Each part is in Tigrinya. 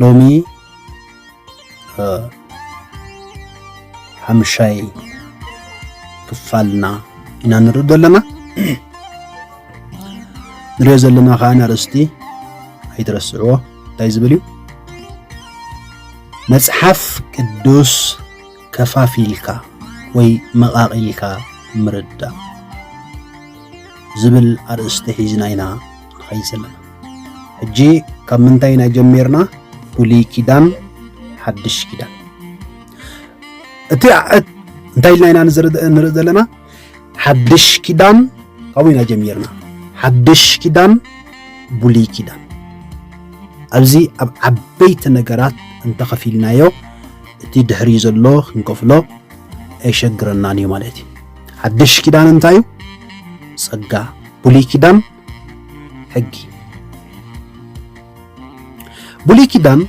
ሎሚ ሓምሻይ ክፋልና ኢና ንርኢ ዘለና ንሪኦ ዘለና ከዓ ኣርእስቲ ኣይትረስዕዎ እንታይ ዝብል እዩ መፅሓፍ ቅዱስ ከፋፊልካ ወይ መቃቂልካ ምርዳእ ዝብል ኣርእስቲ ሒዝና ኢና ንኸይስ ኣለና ሕጂ ካብ ምንታይ ኢና ጀሚርና ብሉይ ኪዳን ሓድሽ ኪዳን እቲ እንታይ ኢልና ኢና ንርኢ ዘለና ሓድሽ ኪዳን ካብኡ ኢና ጀሚርና ሓድሽ ኪዳን ብሉይ ኪዳን ኣብዚ ኣብ ዓበይቲ ነገራት እንተኸፊልናዮ እቲ ድሕሪ ዘሎ ክንከፍሎ ኣይሸግረናን እዩ ማለት እዩ ሓድሽ ኪዳን እንታይ እዩ? ጸጋ። ብሉይ ኪዳን ሕጊ። ብሉይ ኪዳን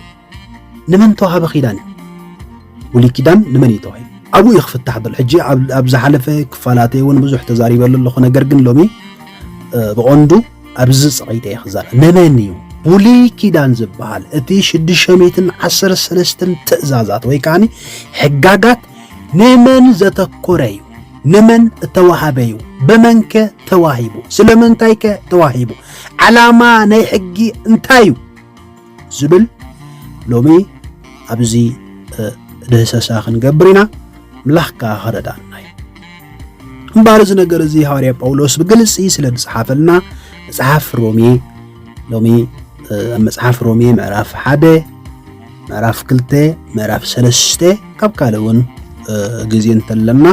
ንመን ተዋህበ ኪዳን እዩ? ብሉይ ኪዳን ንመን እዩ ተዋሂቡ? ኣብኡ እዩ ክፍታሕ ዘሎ። ሕጂ ኣብ ዝሓለፈ ክፋላተ እውን ብዙሕ ተዛሪበሉ ኣለኹ። ነገር ግን ሎሚ ብቐንዱ ኣብዚ ፀቒጠ እየ ክዛረብ። ንመን እዩ ብሉይ ኪዳን ዝበሃል እቲ ሽዱሽተ ሚእትን ዓሰርተ ሰለስተን ትእዛዛት ወይ ከዓ ሕጋጋት ንመን ዘተኮረዩ ንመን እተዋሃበዩ ብመንከ ተዋሂቡ ስለምንታይከ ተዋሂቡ ዓላማ ናይ ሕጊ እንታይ እዩ ዝብል ሎሚ ኣብዚ ድህሰሳ ክንገብር ኢና ምላኽ ከዓ ክረዳና እዩ እምበኣር እዚ ነገር እዚ ሃዋርያ ጳውሎስ ብግልፂ ስለ ዝፀሓፈልና መፅሓፍ ሮሜ ሎሚ ኣብ መፅሓፍ ሮሜ ምዕራፍ ሓደ ምዕራፍ ክልተ ምዕራፍ ሰለስተ ካብ ካልእ እውን ግዜ እንተለና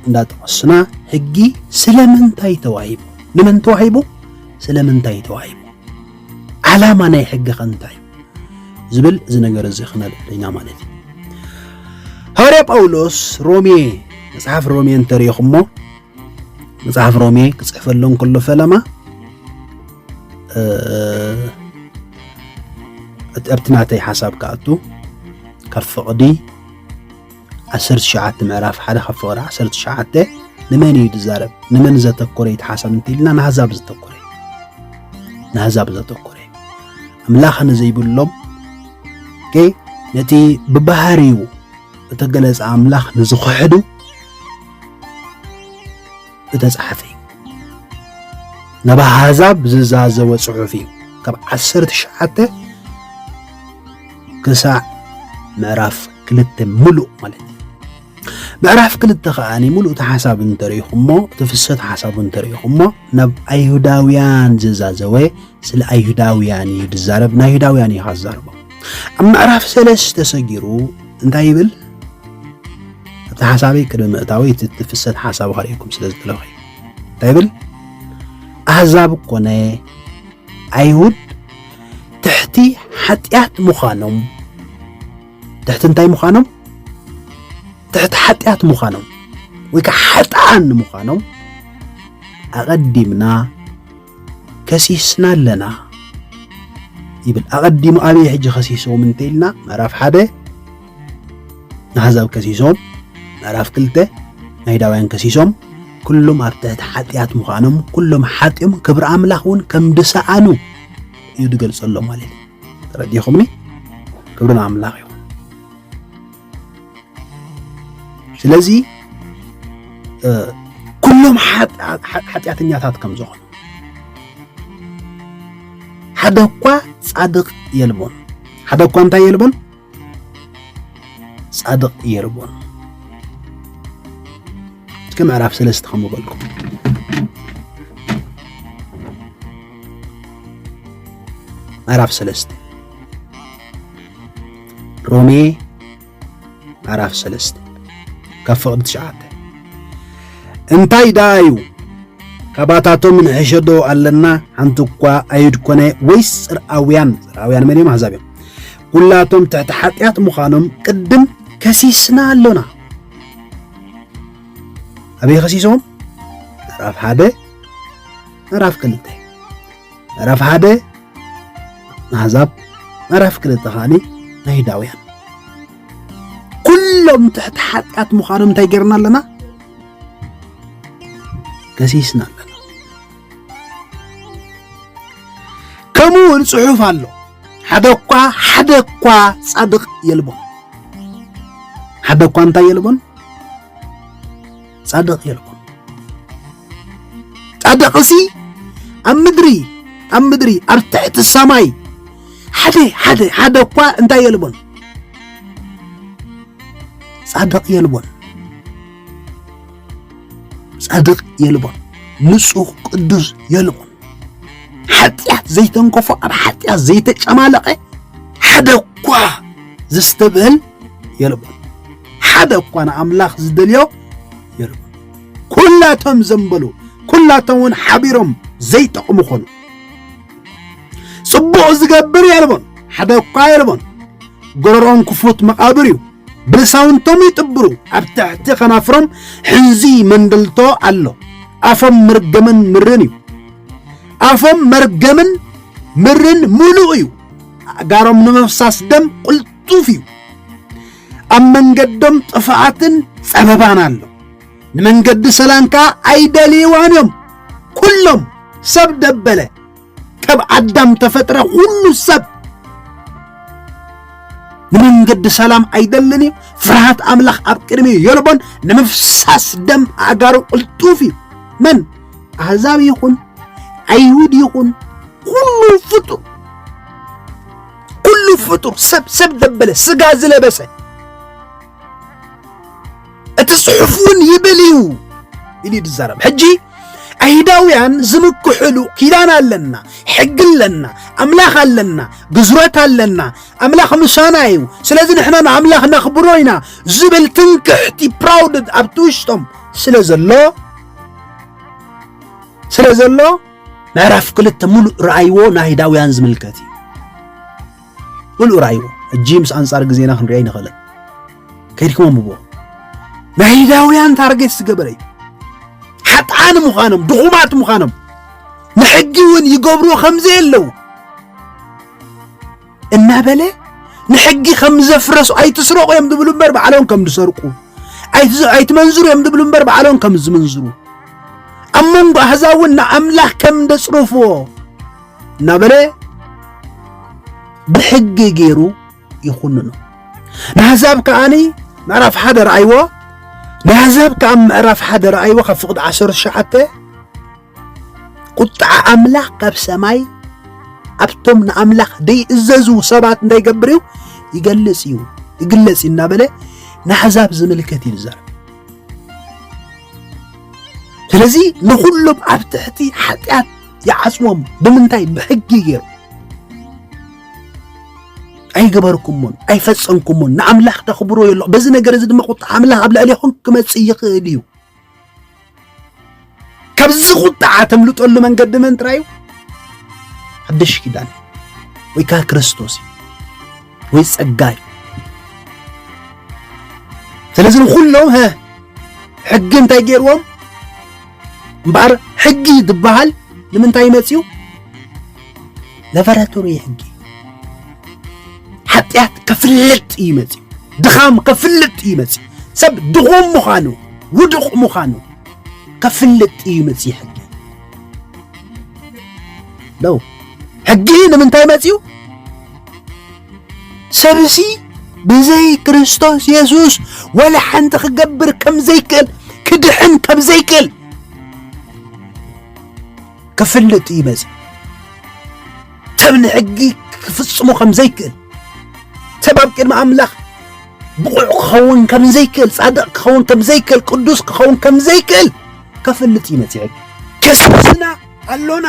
እንዳጠቐስና ሕጊ ስለምንታይ ተዋሂቡ ንመን ተዋሂቡ ስለምንታይ ተዋሂቡ ዓላማ ናይ ሕጊ ከ እንታይ እዩ ዝብል እዚ ነገር እዚ ክነልዕል ኢና ማለት እዩ ሃዋርያ ጳውሎስ ሮሜ መጽሓፍ ሮሜ እንተሪኢኹሞ መጽሓፍ ሮሜ ክጽሕፈሎም ከሎ ፈለማ ኣብቲ ናተይ ሓሳብ ክኣቱ ካብ ፍቕዲ 19 ምዕራፍ ሓደ ካብ ፍቕዲ 19 ንመን እዩ ዝዛረብ ንመን ዘተኮረ እዩ ሓሳብ እንተኢልና ንኣህዛብ ዘተኮረ ንኣህዛብ ዘተኮረ ኣምላኽ ንዘይብሎም ነቲ ብባህሪኡ እተገለጸ ኣምላኽ ንዝኽሕዱ እደ ጸሓፊ እዩ ናብ ኣሕዛብ ዝዛዘወ ጽሑፍ እዩ ካብ ዓሰርተ ትሽዓተ ክሳዕ ምዕራፍ ክልተ ምሉእ ማለት እዩ ምዕራፍ ክልተ ከዓ ሙሉእ እቲ ሓሳብ እንተሪኢኹሞ እቲ ፍሰት ሓሳቡ እንተሪኢኹሞ ናብ ኣይሁዳውያን ዝዛዘወ ስለ ኣይሁዳውያን እዩ ዝዛረብ ንኣይሁዳውያን እዩ ዝዛረቦ ኣብ ምዕራፍ ሰለስተ ሰጊሩ እንታይ ይብል? ኣብቲ ሓሳበይ ቅድሚ ምእታወይ እቲ ፍሰት ሓሳብ ከርእየኩም ስለ ዝደለኹ እንታይ ይብል? ኣህዛብ ኮነ ኣይሁድ ትሕቲ ሓጢኣት ምዃኖም ትሕቲ እንታይ ምዃኖም ትሕቲ ሓጢኣት ምዃኖም ወይ ከዓ ሓጥኣን ምዃኖም ኣቐዲምና ከሲስና ኣለና ይብል ኣቐዲሙ ኣበየ ሕጂ ከሲሶም እንተኢልና ምዕራፍ ሓደ ንኣሕዛብ ከሲሶም ምዕራፍ ክልተ ናይዳውያን ከሲሶም ኩሎም ኣብ ትሕቲ ሓጢኣት ምዃኖም ኩሎም ሓጢኦም ክብሪ ኣምላኽ እውን ከም ድሰኣኑ እዩ ዝገልጸሎም ማለት እዩ ተረዲኹምኒ ክብሪ ንኣምላኽ እዩ ስለዚ ኩሎም ሓጢኣተኛታት ከም ዝኾኑ ሓደ እኳ ጻድቕ የልቦን ሓደ እኳ እንታይ የልቦን ጻድቕ የልቦን እስከ ምዕራፍ ሰለስተ ከም በልኩም ምዕራፍ ሰለስተ ሮሜ ምዕራፍ ሰለስተ ካብ ፍቕዲ ትሽዓተ እንታይ ደኣ እዩ ካባታቶም ንሕሸዶ ኣለና ሓንቲ እኳ ኣይሁድ ኮነ ወይስ ጽርኣውያን ጽርኣውያን መን እዮም ኣሕዛብ እዮም ኩላቶም ትሕቲ ሓጢኣት ምዃኖም ቅድም ከሲስና ኣሎና ኣበይ ከሲሶም ምዕራፍ ሓደ ምዕራፍ ክልተ ምዕራፍ ሓደ ኣሕዛብ ምዕራፍ ክልተ ከዓኒ ናይዳውያን ኩሎም ትሕቲ ሓጢኣት ምዃኖም እንታይ ጌርና ኣለና ገሲስና ኣለና ከምኡ እውን ፅሑፍ ኣሎ ሓደ እኳ ሓደ እኳ ፃድቕ የልቦን ሓደ እኳ እንታይ የልቦን ጻድቕ የልቦን። ጻድቕሲ ኣብ ምድሪ ኣብ ምድሪ ኣብ ትሕቲ ሰማይ ሓደ ሓደ ሓደ እኳ እንታይ የልቦን ጻድቕ የልቦን ጻድቕ የልቦን ንጹህ ቅዱስ የልቦን ሓጢኣት ዘይተንከፎ ኣብ ሓጢኣት ዘይተጨማለቐ ሓደ እኳ ዘስተብህል የልቦን ሓደ እኳ ንኣምላኽ ዝደልዮ የልቦን ኩላቶም ዘንበሉ ኩላቶም እውን ሓቢሮም ዘይጠቕሙ ኾኑ ጽቡቕ ዝገብር የልቦን ሓደ እኳ የልቦን ጎረሮኦም ክፉት መቓብር እዩ ብልሳውንቶም ይጥብሩ ኣብ ትሕቲ ከናፍሮም ሕንዚ መንደልቶ ኣሎ ኣፎም መርገምን ምርን እዩ ኣፎም መርገምን ምርን ምሉእ እዩ ኣእጋሮም ንምፍሳስ ደም ቁልጥ ጡፍ እዩ። ኣብ መንገዶም ጥፍኣትን ጸበባን ኣሎ። ንመንገዲ ሰላም ከኣ ኣይደልይዋን እዮም። ኩሎም ሰብ ደበለ ካብ ኣዳም ተፈጥረ ኩሉ ሰብ ንመንገዲ ሰላም ኣይደልን እዩ። ፍርሃት ኣምላኽ ኣብ ቅድሚ የልቦን። ንምፍሳስ ደም ኣእጋሩ ቅልጡፍ እዩ። መን ኣህዛብ ይኹን ኣይሁድ ይኹን ኩሉ ፍጡር ኩሉ ፍጡር ሰብ ሰብ ዘበለ ስጋ ዝለበሰ እቲ ጽሑፍ እውን ይብል እዩ ኢሉ እዩ ዝዛረብ ሕጂ ኣይሁዳውያን ዝምክሕሉ ኪዳን ኣለና ሕጊ ኣለና ኣምላኽ ኣለና ግዝረት ኣለና ኣምላኽ ምሳና እዩ ስለዚ ንሕና ንኣምላኽ ነኽብሮ ኢና ዝብል ትንክሕቲ ፕራውድ ኣብቲ ውሽጦም ስለ ዘሎ ስለ ዘሎ ምዕራፍ ክልተ ሙሉእ ረኣይዎ ናይዳውያን ዝምልከት እዩ ሙሉእ ረኣይዎ እጂ ምስ ኣንጻር ግዜና ክንሪኦ ኣይንኽእልን ከይድኩም ኣንብቦ ናይዳውያን ታርጌት ዝገበረ እዩ ሓጥኣን ምዃኖም ድኹማት ምዃኖም ንሕጊ እውን ይገብርዎ ከምዘየለዉ እናበለ ንሕጊ ከም ዘፍረሱ ኣይትስረቑ እዮም ዝብሉ እምበር ባዕሎም ከም ዝሰርቁ ኣይትመንዝሩ እዮም ዝብሉ እምበር ባዕሎም ከም ዝምንዝሩ ኣብ መንጎ ኣህዛብ እውን ንኣምላኽ ከም ዘጽርፍዎ እናበለ ብሕጊ ገይሩ ይኹንኑ ንኣህዛብ ከዓኒ ምዕራፍ ሓደ ረኣይዎ ንኣህዛብ ከዓ ምዕራፍ ሓደ ረኣይዎ ካብ ፍቕዲ ዓሰርተ ሸዓተ ቁጥዓ ኣምላኽ ካብ ሰማይ ኣብቶም ንኣምላኽ ደይእዘዙ ሰባት እንታይ ይገብር እዩ ይገልጽ እዩ ይግለጽ እዩ እናበለ ንኣሕዛብ ዝምልከት እዩ ዝዛረብ ስለዚ ንኹሎም ኣብ ትሕቲ ሓጢኣት ይዓጽዎም ብምንታይ ብሕጊ ገይሩ ኣይገበርኩሞን ኣይፈጸምኩሞን ንኣምላኽ ተኽብሮ የሎ በዚ ነገር እዚ ድማ ቁጥዓ ኣምላኽ ኣብ ልዕሌኹም ክመጽእ ይኽእል እዩ ካብዚ ቁጥዓ ተምልጠሉ መንገዲ መን ጥራይ እዩ ሓድሽ ኪዳን ወይ ከዓ ክርስቶስ እዩ ወይ ፀጋ እዩ ስለዚ ንኩሎም ሀ ሕጊ እንታይ ገይርዎም እምበኣር ሕጊ ዝበሃል ንምንታይ መፅኡ ለበራቶሪ ሕጊ ሓጢኣት ከፍልጥ እዩ መፅኡ ድኻም ከፍልጥ እዩ መፅኡ ሰብ ድኹም ምዃኑ ውዱቕ ምዃኑ ከፍልጥ እዩ መፅኡ ሕጊ ለው ሕጊ ንምንታይ መፅኡ ሰብሲ ብዘይ ክርስቶስ የሱስ ወላ ሓንቲ ክገብር ከም ዘይክእል ክድሕን ከም ዘይክእል ክፍልጥ እዩ መጺኡ ሰብ ንሕጊ ክፍጽሞ ከም ዘይክእል ሰብ ኣብ ቅድሚ ኣምላኽ ብቑዕ ክኸውን ከም ዘይክእል ጻድቕ ክኸውን ከም ዘይክእል ቅዱስ ክኸውን ከም ዘይክእል ከፍልጥ እዩ መጺ ሕጊ ከሲስና ኣሎና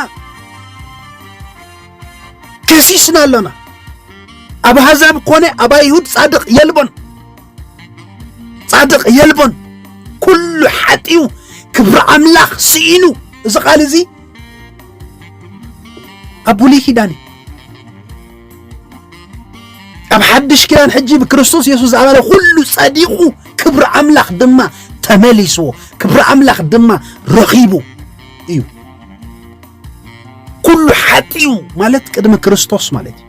ከሲስና ኣሎና ኣብ ኣሕዛብ ኮነ ኣብ ኣይሁድ ጻድቕ የልቦን ጻድቕ የልቦን ኩሉ ሓጢኡ ክብሪ ኣምላኽ ስኢኑ እዚ ቃል እዚ ኣብ ብሉይ ኪዳን እዩ ኣብ ሓድሽ ኪዳን ሕጂ ብክርስቶስ የሱስ ዝኣመነ ኩሉ ጸዲቑ ክብሪ ኣምላኽ ድማ ተመሊስዎ ክብሪ ኣምላኽ ድማ ረኺቡ እዩ ኩሉ ሓጢኡ ማለት ቅድሚ ክርስቶስ ማለት እዩ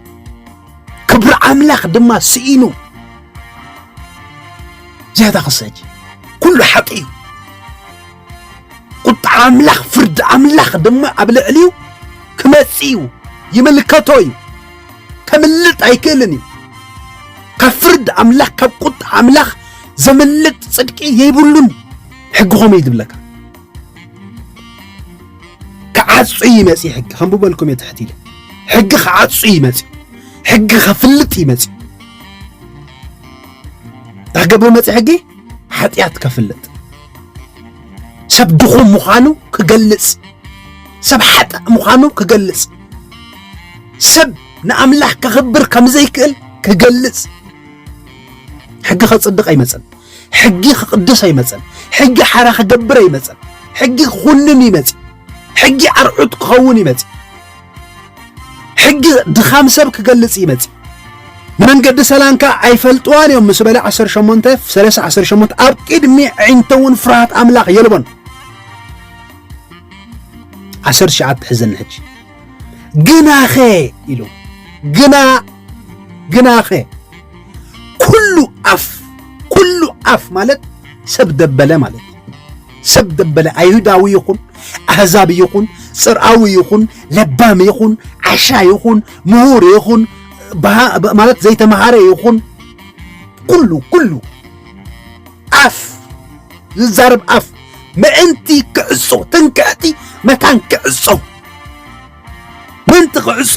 ክብሪ ኣምላኽ ድማ ስኢኑ ዝያዳ ክሰጅ ኩሉ ሓቂ እዩ ቁጣ ኣምላኽ ፍርዲ ኣምላኽ ድማ ኣብ ልዕሊኡ ክመጽእ እዩ ይምልከቶ እዩ ከምልጥ ኣይክእልን እዩ ካብ ፍርዲ ኣምላኽ ካብ ቁጣ ኣምላኽ ዘምልጥ ጽድቂ የይብሉን ሕጊ ኸመይ ዝብለካ ክዓጹ እዩ መጺ ሕጊ ከንብበልኩም እየ ትሕት ኢለ ሕጊ ክዓጹ እዩ መጺ ሕጊ ከፍልጥ እዩ መጺ እንታይ ክገብር መጺ ሕጊ ሓጢኣት ከፍልጥ ሰብ ድኹም ምዃኑ ክገልጽ ሰብ ሓጥእ ምዃኑ ክገልጽ ሰብ ንኣምላኽ ከኽብር ከም ዘይክእል ክገልጽ ሕጊ ከጽድቕ ኣይመጽን ሕጊ ክቕደስ ኣይመጸን። ሕጊ ሓራ ክገብር ኣይመጸን። ሕጊ ክኹንን ይመጽ። ሕጊ ኣርዑት ክኸውን ይመጽ። ሕጊ ድኻም ሰብ ክገልጽ ይመጽ። ንመንገዲ ሰላም ከዓ ኣይፈልጥዋን እዮም ምስ በለ 18 30 18 ኣብ ቅድሚ ዕንተ እውን ፍርሃት ኣምላኽ የልቦን 19 ሕዘኒ ሕጂ ግናኸ ኢሉ ግና ግናኸ ኩሉ ኣፍ ኩሉ ኣፍ ማለት ሰብ ደበለ ማለት ሰብ ደበለ ኣይሁዳዊ ይኹን ኣህዛብ ይኹን ፅርኣዊ ይኹን ለባም ይኹን ዓሻ ይኹን ምሁር ይኹን ማለት ዘይተምሃረ ይኹን ኩሉ ኩሉ ኣፍ ዝዛረብ ኣፍ ምእንቲ ክዕፆ ትንክዕቲ መታን ክዕፆ ምእንቲ ክዕጾ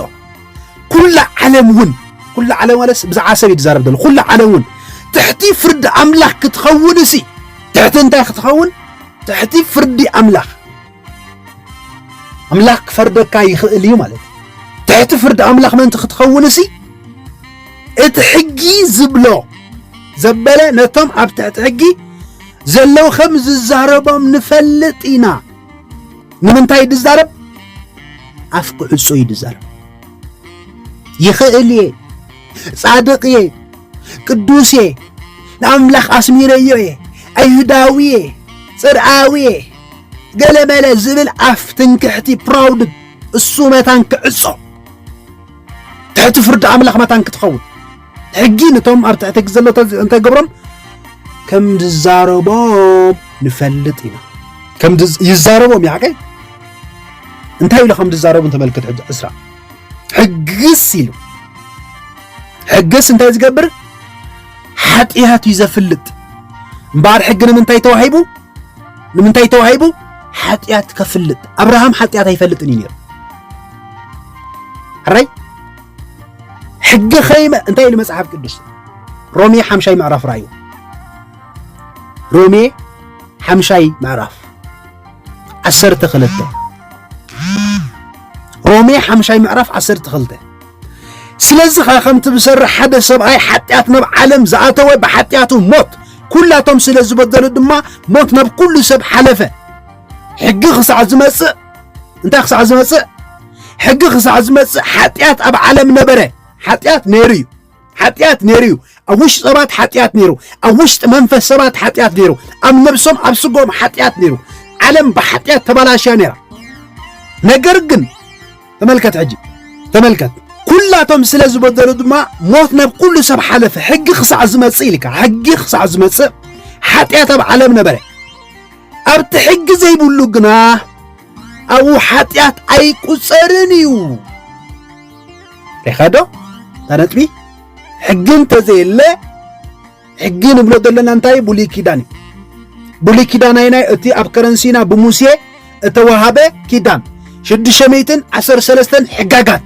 ኩላ ዓለም እውን ኩላ ዓለም ማለትስ ብዛዕባ ሰብ ይዛረብ ዘሎ ኩላ ዓለም እውን ትሕቲ ፍርዲ ኣምላኽ ክትኸውን እሲ ትሕቲ እንታይ ክትኸውን ትሕቲ ፍርዲ ኣምላኽ ኣምላኽ ክፈርደካ ይኽእል እዩ ማለት ትሕቲ ፍርዲ ኣምላኽ ምእንቲ ክትኸውን እሲ እቲ ሕጊ ዝብሎ ዘበለ ነቶም ኣብ ትሕቲ ሕጊ ዘለዉ ከም ዝዛረቦም ንፈልጥ ኢና ንምንታይ ድዛረብ ኣፍ ክዕጾ እዩ ድዛረብ ይኽእል እየ ጻድቕ እየ ቅዱስ እየ ንኣምላኽ ኣስሚረዮ እየ ኣይሁዳዊ እየ ጽርኣዊ እየ ገለመለ ዝብል ኣፍ ትንክሕቲ ፕራውድ እሱ መታን ክዕጾ ትሕቲ ፍርዲ ኣምላኽ መታን ክትኸውን ሕጊ ንቶም ኣብ ትሕቲ ሕጊ ዘሎ እንታይ ገብሮም ከም ዝዛረቦም ንፈልጥ ኢና ከም ይዛረቦም እዩ ሓቀይ እንታይ ኢሉ ከም ዝዛረቡ ተመልክት ሕጂ ዕስራ ሕግስ ኢሉ ሕግስ እንታይ ዝገብር ሓጢኣት እዩ ዘፍልጥ እምበኣር ሕጊ ንምንታይ ተዋሂቡ ንምንታይ ተዋሂቡ ሓጢኣት ከፍልጥ ኣብርሃም ሓጢኣት ኣይፈልጥን እዩ ነይሩ ሕራይ ሕጊ ከይመ እንታይ ኢሉ መጽሓፍ ቅዱስ ሮሜ ሓምሻይ ምዕራፍ ራዩ ሮሜ ሓምሻይ ምዕራፍ ዓሰርተ ክልተ ሮሜ ሓምሻይ ምዕራፍ ዓሰርተ ክልተ ስለዚ ኸ ከምቲ ብሰርሕ ሓደ ሰብኣይ ሓጢኣት ናብ ዓለም ዝኣተወ ብሓጢኣቱ ሞት ኩላቶም ስለ ዝበደሉ ድማ ሞት ናብ ኩሉ ሰብ ሓለፈ ሕጊ ክሳዕ ዝመጽእ እንታይ ክሳዕ ዝመጽእ ሕጊ ክሳዕ ዝመጽእ ሓጢኣት ኣብ ዓለም ነበረ ሓጢኣት ነይሩ እዩ ሓጢኣት ነይሩ እዩ ኣብ ውሽጢ ሰባት ሓጢኣት ነይሩ ኣብ ውሽጢ መንፈስ ሰባት ሓጢኣት ነይሩ ኣብ ነብሶም ኣብ ስጎም ሓጢኣት ነይሩ ዓለም ብሓጢኣት ተባላሽያ ነይራ ነገር ግን ተመልከት ሕጂ ተመልከት ኩላቶም ስለ ዝበደሉ ድማ ሞት ናብ ኩሉ ሰብ ሓለፈ ሕጊ ክሳዕ ዝመጽእ ኢልካ ሕጊ ክሳዕ ዝመጽእ ሓጢኣት ኣብ ዓለም ነበረ ኣብቲ ሕጊ ዘይብሉ ግና ኣብኡ ሓጢኣት ኣይቁጸርን እዩ ሪኸዶ እታ ነጥቢ ሕጊ እንተዘየለ ሕጊ ንብሎ ዘለና እንታይ ብሉይ ኪዳን እዩ ብሉይ ኪዳን ኣይናይ እቲ ኣብ ከረንሲና ብሙሴ እተዋሃበ ኪዳን ሽዱሽተ ሚእትን ዓሰርተ ሰለስተን ሕጋጋት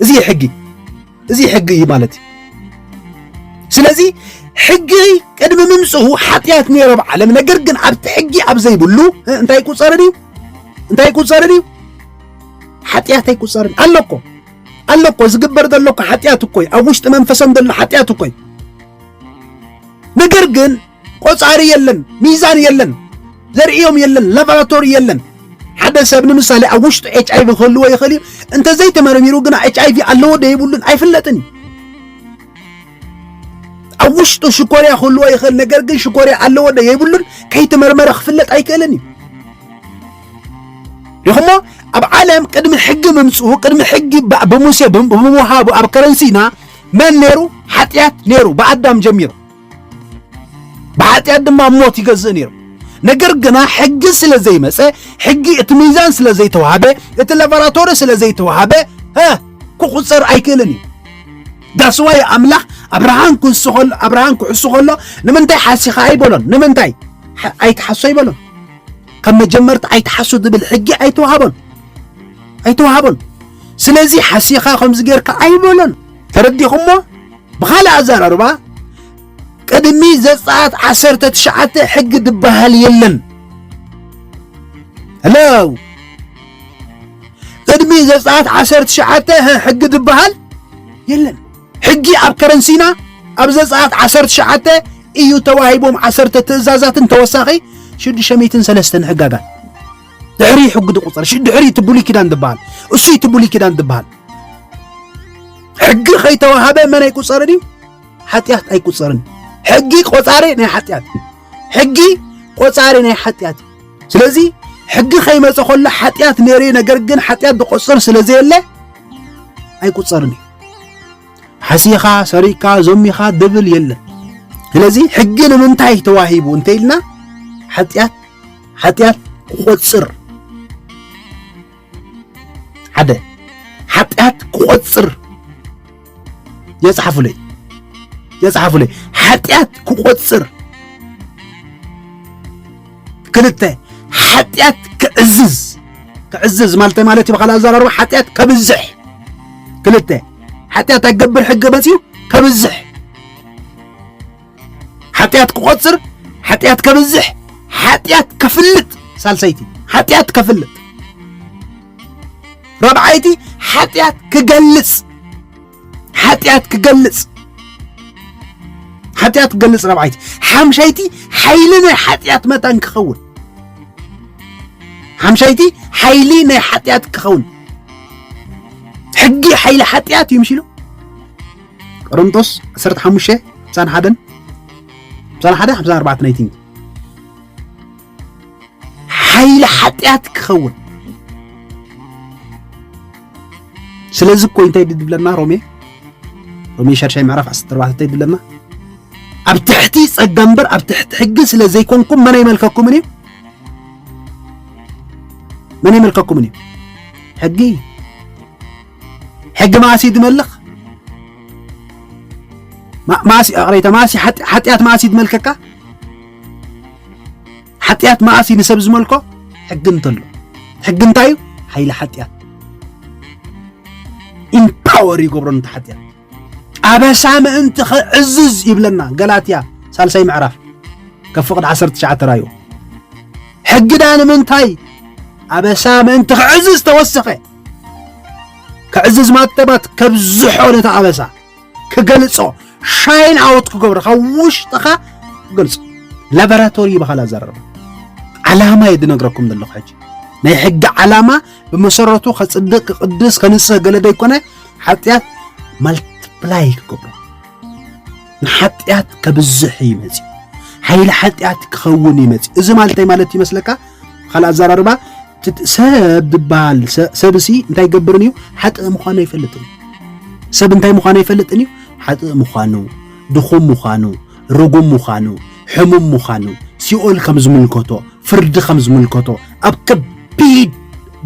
እዚ ሕጊ እዚ ሕጊ እዩ ማለት እዩ ስለዚ ሕጊ ቅድሚ ምምፅኡ ሓጢኣት ነይሮ ኣብ ዓለም ነገር ግን ኣብቲ ሕጊ ኣብ ዘይብሉ እንታይ ይቁፀርን እዩ እንታይ ይቁፀርን እዩ ሓጢኣት ኣይቁፀርን ኣሎ እኮ ኣሎ እኮ ዝግበር ዘሎ እኮ ሓጢኣት እኮ እዩ ኣብ ውሽጢ መንፈሶም ዘሎ ሓጢኣት እኮ እዩ ነገር ግን ቆጻሪ የለን፣ ሚዛን የለን፣ ዘርእዮም የለን፣ ላቦራቶሪ የለን። ሓደ ሰብ ንምሳሌ ኣብ ውሽጡ ኤች ኣይቪ ክህልዎ ይኽእል እዩ። እንተዘይተመርሚሩ ግና ኤች ኣይቪ ኣለዎ ዶ የብሉን ኣይፍለጥን እዩ። ኣብ ውሽጡ ሽኮርያ ክህልዎ ይኽእል፣ ነገር ግን ሽኮርያ ኣለዎ ዶ የብሉን ከይተመርመረ ክፍለጥ ኣይክእልን እዩ። ሪኹሞ ኣብ ዓለም ቅድሚ ሕጊ ምምፅኡ ቅድሚ ሕጊ ብ- ብሙሴ ብም- ብምውሃቡ ኣብ ከረንሲና መን ነይሩ? ሓጢኣት ነይሩ ብኣዳም ጀሚሩ ብሓጢኣት ድማ ኣብ ሞት ይገዝእ ነይሩ ነገር ግና ሕጊ ስለ ዘይመፀ ሕጊ እቲ ሚዛን ስለ ዘይተዋህበ እቲ ላቦራቶሪ ስለ ዘይተዋህበ ክቑፀር ኣይክእልን እዩ ዳስዋይ ኣምላኽ ኣብርሃን ክሱ ከሎ ኣብርሃን ክሕሱ ከሎ ንምንታይ ሓሲኻ ኣይበሎን ንምንታይ ኣይትሓሶ ኣይበሎን ካብ መጀመርታ ኣይትሓሱ ዝብል ሕጊ ኣይተዋሃቦን ኣይተዋሃቦን ስለዚ ሓሲኻ ከምዚ ጌርካ ኣይበሎን ተረዲኹሞ ብኻልእ ኣዘራርባ ቅድሚ ዘጸኣት ዓሰርተ ትሽዓተ ሕጊ ድበሃል የለን። ሄሎ ቅድሚ ዘጸኣት ዓሰርተ ትሽዓተ ሕጊ ድበሃል የለን። ሕጊ ኣብ ከረንሲና ኣብ ዘጸኣት ዓሰርተ ትሽዓተ እዩ ተዋሂቦም ዓሰርተ ትእዛዛትን ተወሳኺ ሽዱሽተ ሚእትን ሰለስተን ሕጋጋት ድሕሪ ሕጊ ድቁፀር ድሕሪ እቲ ብሉይ ኪዳን ዝበሃል እሱ እቲ ብሉይ ኪዳን ዝበሃል ሕጊ ከይተዋሃበ መን ኣይቁፀርን እዩ ሓጢኣት ኣይቁፀርን ሕጊ ቆፃሪ ናይ ሓጢኣት ሕጊ ቆፃሪ ናይ ሓጢኣት ስለዚ ሕጊ ከይመፀ ከሎ ሓጢኣት ነይሩ ነገር ግን ሓጢኣት ዝቆፅር ስለ ዘየለ ኣይቁፀርን እዩ ሓሲኻ ሰሪቅካ ዞሚኻ ድብል የለን ስለዚ ሕጊ ንምንታይ ተዋሂቡ እንተኢልና ሓጢኣት ሓጢኣት ክቖጽር ሓደ ሓጢኣት ክቖጽር የጽሓፉለይ የጽሓፉለይ ሓጢኣት ክቖጽር ክልተ ሓጢኣት ክዕዝዝ ክዕዝዝ ማለት ማለት እዩ ብካልእ ኣዘራርባ ሓጢኣት ከብዝሕ ክልተ ሓጢኣት ኣገብር ሕገ መፅኡ ከብዝሕ ሓጢኣት ክቆፅር ሓጢኣት ከብዝሕ ሓጢኣት ከፍልጥ ሳልሰይቲ ሓጢኣት ከፍልጥ ራብዓይቲ ሓጢኣት ክገልፅ ሓጢኣት ክገልፅ ሓጢኣት ክገልፅ ራብዓይቲ ሓምሻይቲ ሓይሊ ናይ ሓጢኣት መታን ክኸውን ሓምሻይቲ ሓይሊ ናይ ሓጢኣት ክኸውን ሕጊ ሓይሊ ሓጢኣት እዩ ምሽ ኢሉ ቆሮንቶስ ዓሰርተ ሓሙሽተ ሓምሳን ሓደን ሓምሳን ሓደ ሓምሳን ኣርባዕተን ኣይ ቲንክ ሓይሊ ሓጢኣት ክኸውን ስለዚ እኮ እንታይ ድብለና ሮሜ ሮሜ ሻድሻይ ምዕራፍ ዓሰርተ ኣርባዕተ እንታይ ድብለና ኣብ ትሕቲ ጸጋ እምበር ኣብ ትሕቲ ሕጊ ስለ ዘይኮንኩም መን ኣይመልከኩምን እዩ መን ኣይመልከኩምን እዩ ሕጊ ሕጊ መኣስ እዩ ድመልኽ? መኣስ እዩ ኣቕረይታ መኣስ እዩ ሓጢኣት መኣስ እዩ ድመልከካ? ሓጢኣት መኣስ እዩ ንሰብ ዝመልኮ? ሕጊ እንተሎ ሕጊ እንታይ እዩ? ሓይሊ ሓጢኣት ኢምፓወር ይገብሮ ነቲ ሓጢኣት ኣበሳ ምእንቲ ክዕዝዝ ይብለና ገላትያ ሳልሳይ ምዕራፍ ከብ ፍቕዲ 19 ራዩ ሕጊ ዳ ንምንታይ ኣበሳ ምእንቲ ክዕዝዝ ተወሰኸ ክዕዝዝ ማተባት ከብዝሖ ነቲ ኣበሳ ክገልጾ ሻይን ኣወት ክገብሮ ካብ ውሽጥኻ ክገልጾ ላቦራቶሪ ይበሃል ኣዘረባ ዓላማ እየ ዝነግረኩም ዘለኹ ሕጂ ናይ ሕጊ ዓላማ ብመሰረቱ ከፅድቅ ክቅድስ ከንስህ ገለ ዘይኮነ ሓጢኣት ማልትፕላይ ክገብሮ ንሓጢኣት ከብዝሕ እዩ መፅኡ ሓይሊ ሓጢኣት ክኸውን እዩ መፅኡ እዚ ማለተይ ማለት ይመስለካ ካልእ ኣዘራርባ ሰብ ዝበሃል ሰብሲ እንታይ ይገብርን እዩ ሓጥእ ምዃኑ ኣይፈልጥን እዩ ሰብ እንታይ ምዃኑ ኣይፈልጥን እዩ ሓጥእ ምዃኑ ድኹም ምዃኑ ርጉም ምዃኑ ሕሙም ምዃኑ ሲኦል ከም ዝምልከቶ ፍርዲ ከም ዝምልከቶ ኣብ ከቢድ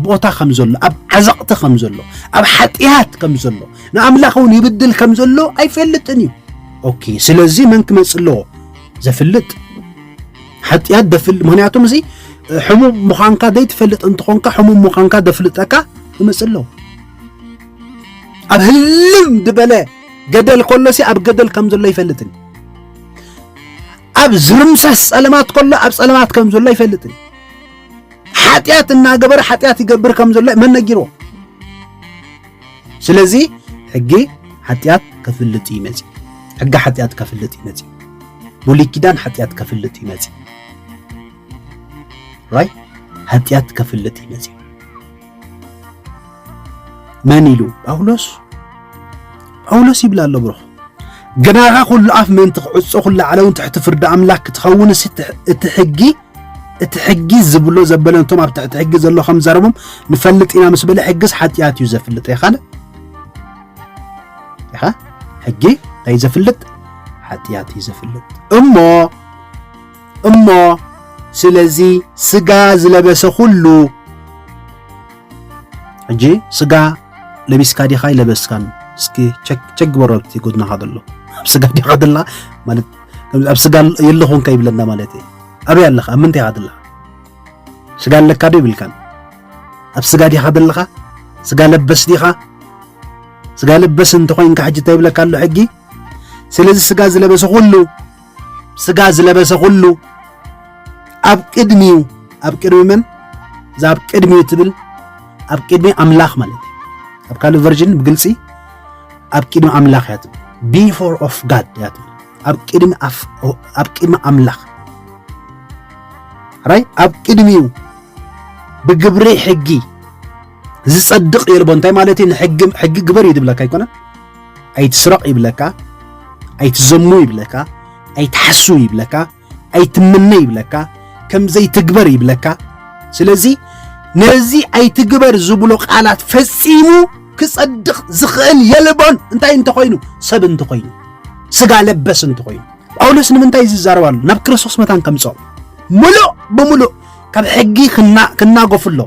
ቦታ ከም ዘሎ ኣብ ዓዘቕቲ ከም ዘሎ ኣብ ሓጢኣት ከም ዘሎ ንኣምላኽ እውን ይብድል ከም ዘሎ ኣይፈልጥን እዩ ኦኬ ስለዚ መን ክመፅ ኣለዎ ዘፍልጥ ሓጢኣት ደፍል ምክንያቱም እዚ ሕሙም ምዃንካ ዘይትፈልጥ እንትኾንካ ሕሙም ምዃንካ ደፍልጠካ ይመፅእ ኣለዉ ኣብ ህልም ዝበለ ገደል ከሎሲ ኣብ ገደል ከም ዘሎ ይፈልጥን ኣብ ዝርምሰስ ፀለማት ከሎ ኣብ ፀለማት ከም ዘሎ ይፈልጥን ሓጢኣት እናገበረ ሓጢኣት ይገብር ከም ዘሎ መን ነጊርዎ ስለዚ ሕጊ ሓጢኣት ከፍልጥ እዩ መፂኡ ሕጊ ሓጢኣት ከፍልጥ እዩ መፂኡ ብሉይ ኪዳን ሓጢኣት ከፍልጥ እዩ መፂኡ ራይ ሓጢኣት ከፍልጥ እዩ መፂኡ መን ኢሉ ጳውሎስ ጳውሎስ ይብል ኣሎ ብሩኽ ግናኻ ኩሉ ኣፍ ምእንቲ ክዕፆ ኩሉ ዓለውን ትሕቲ ፍርዲ ኣምላክ ክትኸውን እቲ ሕጊ እቲ ሕጊ ዝብሎ ዘበለ ነቶም ኣብ ትሕቲ ሕጊ ዘሎ ከም ዘረቦም ንፈልጥ ኢና ምስ በለ ሕግስ ሓጢኣት እዩ ዘፍልጥ የኻለ ኢኻ ሕጊ እንታይ ዘፍልጥ ሓጢኣት እዩ ዘፍልጥ እሞ እሞ ስለዚ ስጋ ዝለበሰ ኩሉ ሕጂ ስጋ ለቢስካ ዲኻ ይለበስካን እስኪ ቸክ ግበሮ ኣብቲ ጎድናኻ ዘሎ ስጋ ዲኻ ደላ ማለት ከምዚ ኣብ ስጋ የለኹን ከይብለና ማለት እዩ ኣበይ ኣለኻ ኣብ ምንታይ ኢኻ ዘለኻ ስጋ ኣለካ ዶ ይብልካን ኣብ ስጋ ዲኻ ዘለኻ ስጋ ለበስ ዲኻ ስጋ ለበስ እንተኾይንካ ሕጂ እንታይ ይብለካ ኣሎ ሕጊ ስለዚ ስጋ ዝለበሰ ኩሉ ስጋ ዝለበሰ ኩሉ ኣብ ቅድሚኡ ኣብ ቅድሚ መን እዛ ኣብ ቅድሚኡ ትብል ኣብ ቅድሚ ኣምላኽ ማለት እዩ ኣብ ካልእ ቨርዥን ብግልፂ ኣብ ቅድሚ ኣምላኽ እያ ትብል ቢፎር ኦፍ ጋድ እያ ትብል ኣብ ቅድሚ ኣብ ቅድሚ ኣምላኽ ራይ ኣብ ቅድሚኡ ብግብሪ ሕጊ ዝጸድቕ የልቦ እንታይ ማለት እዩ ንሕጊ ሕጊ ግበር እዩ ዝብለካ ኣይኮነ ኣይትስረቕ ይብለካ ኣይትዘሙ ይብለካ ኣይትሓሱ ይብለካ ኣይትምነ ይብለካ ከም ዘይትግበር ይብለካ ስለዚ ነዚ ኣይትግበር ዝብሎ ቃላት ፈጺሙ ክጸድቕ ዝኽእል የልቦን እንታይ እንተኾይኑ ሰብ እንተኾይኑ ስጋ ለበስ እንተኾይኑ ጳውሎስ ንምንታይ ዝዛረብ ኣሎ ናብ ክርስቶስ መታን ከምጽኦ ምሉእ ብምሉእ ካብ ሕጊ ክናጎፍ ኣሎ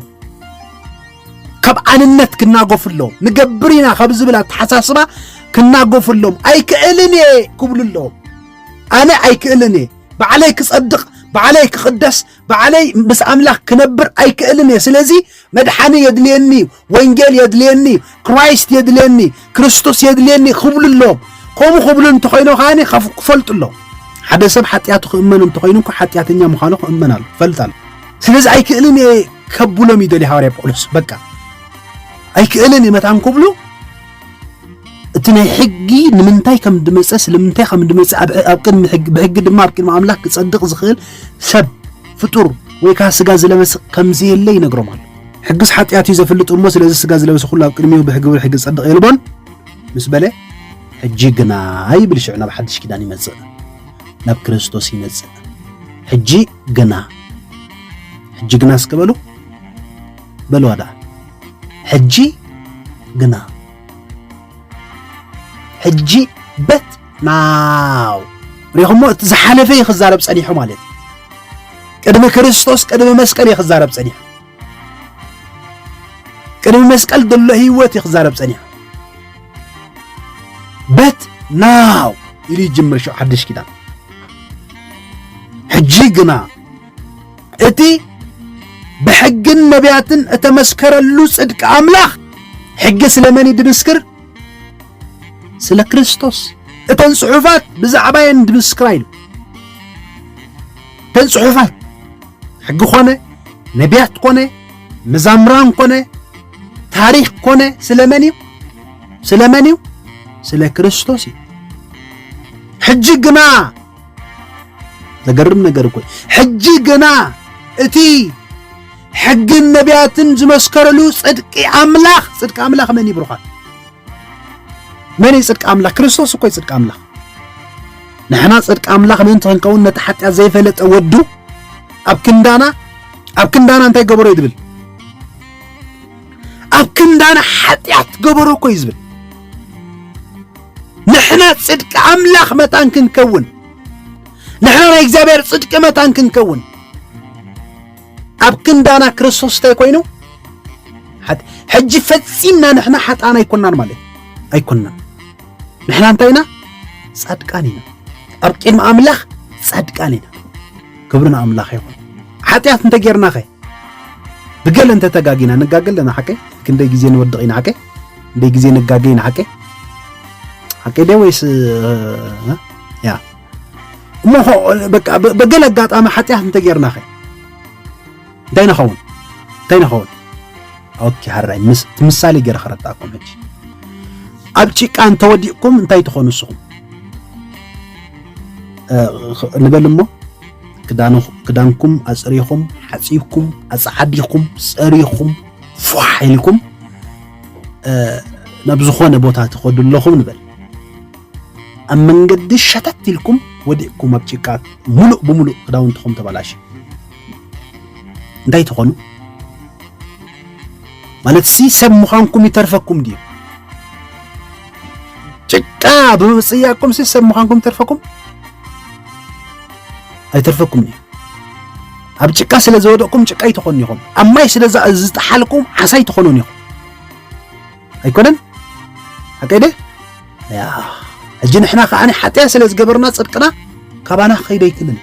ካብ ኣንነት ክናጎፍ ኣሎ ንገብር ኢና ካብ ዝብል ኣተሓሳስባ ክናጎፍ ኣሎም ኣይክእልን እየ ክብሉ ኣለዎም ኣነ ኣይክእልን እየ ባዕለይ ክጸድቕ ባዕለይ ክቕደስ ባዕለይ ምስ ኣምላኽ ክነብር ኣይክእልን እየ ስለዚ መድሓኒ የድልየኒ እዩ ወንጌል የድልየኒ እዩ ክራይስት የድልየኒ ክርስቶስ የድልየኒ ክብሉ ኣለዎም ከምኡ ክብሉ እንተኮይኖ ከዓኒ ክፈልጡ ኣለዎ ሓደ ሰብ ሓጢኣቱ ክእመን እንተኮይኑ እኳ ሓጢኣተኛ ምዃኑ ክእመን ኣሎ ፈልጥ ኣሎ ስለዚ ኣይክእልን እየ ከብሎም ይደልዩ ሃዋርያ ጳውሎስ በቃ ኣይክእልን እየ መታን ክብሉ እቲ ናይ ሕጊ ንምንታይ ከም ድመፀ ስለምንታይ ከም ድመፀ ኣብ ቅድሚ ሕጊ ብሕጊ ድማ ኣብ ቅድሚ ኣምላክ ክጸድቕ ዝኽእል ሰብ ፍጡር ወይ ከዓ ስጋ ዝለበስ ከም ዘየለ ይነግሮም ኣሎ ሕግስ ሓጢኣት እዩ ዘፍልጥ እሞ ስለዚ ስጋ ዝለበሰ ኩሉ ኣብ ቅድሚኡ ብሕግብር ብሕጊ ጸድቕ የልቦን ምስ በለ ሕጂ ግና ይብል ሽዑ ናብ ሓድሽ ኪዳን ይመጽእ ናብ ክርስቶስ ይመጽእ ሕጂ ግና ሕጂ ግና እስከ በሉ በልዋ ደኣ ሕጂ ግና ሕጂ በት ናው ሪኹሞ እቲ ዝሓለፈ እዩ ክዛረብ ጸኒሑ ማለት እዩ ቅድሚ ክርስቶስ ቅድሚ መስቀል እዩ ክዛረብ ጸኒሑ ቅድሚ መስቀል ዘሎ ህይወት እዩ ክዛረብ ጸኒሑ በት ናው ኢሉ ይጅምር ሽዑ ሓድሽ ኪዳን ሕጂ ግና እቲ ብሕግን ነቢያትን እተመስከረሉ ጽድቂ ኣምላኽ ሕጊ ስለመን እዩ ድምስክር? ስለ ክርስቶስ። እተን ጽሑፋት ብዛዕባ የን ድምስክራ ኢሉ እተን ጽሑፋት ሕጊ ኮነ ነቢያት ኮነ መዛምራን ኮነ ታሪኽ ኮነ ስለመን እዩ? ስለመን እዩ? ስለ ክርስቶስ እዩ። ሕጂ ግና ዘገርም ነገር እኮ ሕጂ ግና እቲ ሕግን ነቢያትን ዝመስከረሉ ጽድቂ ኣምላኽ ጽድቂ ኣምላኽ መን እዩ ብሩኻት መን እዩ ጽድቂ ኣምላኽ ክርስቶስ እኮ እዩ ጽድቂ ኣምላኽ ንሕና ጽድቂ ኣምላኽ ምእንቲ ክንከውን ነቲ ሓጢኣት ዘይፈለጠ ወዱ ኣብ ክንዳና ኣብ ክንዳና እንታይ ገበሮ እዩ ዝብል ኣብ ክንዳና ሓጢኣት ገበሮ እኮ እዩ ዝብል ንሕና ጽድቂ ኣምላኽ መታን ክንከውን ንሕና ናይ እግዚኣብሔር ጽድቂ መታን ክንከውን ኣብ ክንዳና ክርስቶስ እንታይ ኮይኑ ሕጂ ፈጺምና ንሕና ሓጣን ኣይኮናን ማለት ኣይኮናን ንሕና እንታይ ኢና ጻድቃን ኢና ኣብ ቅድሚ ኣምላኽ ጻድቃን ኢና ክብሪ ንኣምላኽ ይኹን ሓጢኣት እንተጌርናኸ ብገለ እንተተጋጊና ንጋገ ኣለና ሓቀይ ክንደይ ግዜ ንወድቕ ኢና ሓቀይ እንዴ ጊዜ ነጋገይ ንሓቄ ሓቄ ዴ ወይስ ያ እሞ በቃ በገለ ኣጋጣሚ ሓጢኣት እንተጌርናኸ እንታይ ንኸውን እንታይ ንኸውን ኦኬ ሃራይ ምሳሌ ገይረ ከረዳእኩም ሕጂ ኣብ ጭቃ እንተወዲቕኩም እንታይ ትኾኑ ንስኹም ንበል እሞ ክዳንኩም ኣፅሪኹም ሓፂብኩም ኣፀዓዲኹም ፀሪኹም ፏሕ ኢልኩም ናብ ዝኾነ ቦታ ትኸዱ ኣለኹም ንበል ኣብ መንገዲ ሸተት ኢልኩም ወዲቕኩም ኣብ ጭቃ ሙሉእ ብሙሉእ ክዳውንትኹም ተበላሽ እንታይ ትኾኑ ማለት ሲ ሰብ ምዃንኩም ይተርፈኩም ድዩ ጭቃ ብምፅያቅኩም ሲ ሰብ ምዃንኩም ይተርፈኩም ኣይተርፈኩም ድዩ ኣብ ጭቃ ስለ ዝወደቕኩም ጭቃይ ትኾኑ ኢኹም፣ ኣብ ማይ ስለ ዝጠሓልኩም ዓሳይ ትኾኑን ኢኹም። ኣይኮነን ሓቀይ ደ ያ ሕጂ ንሕና ከዓኒ ሓጢያ ስለ ዝገበርና ጽድቅና ካባና ክኸይደ ኣይክልን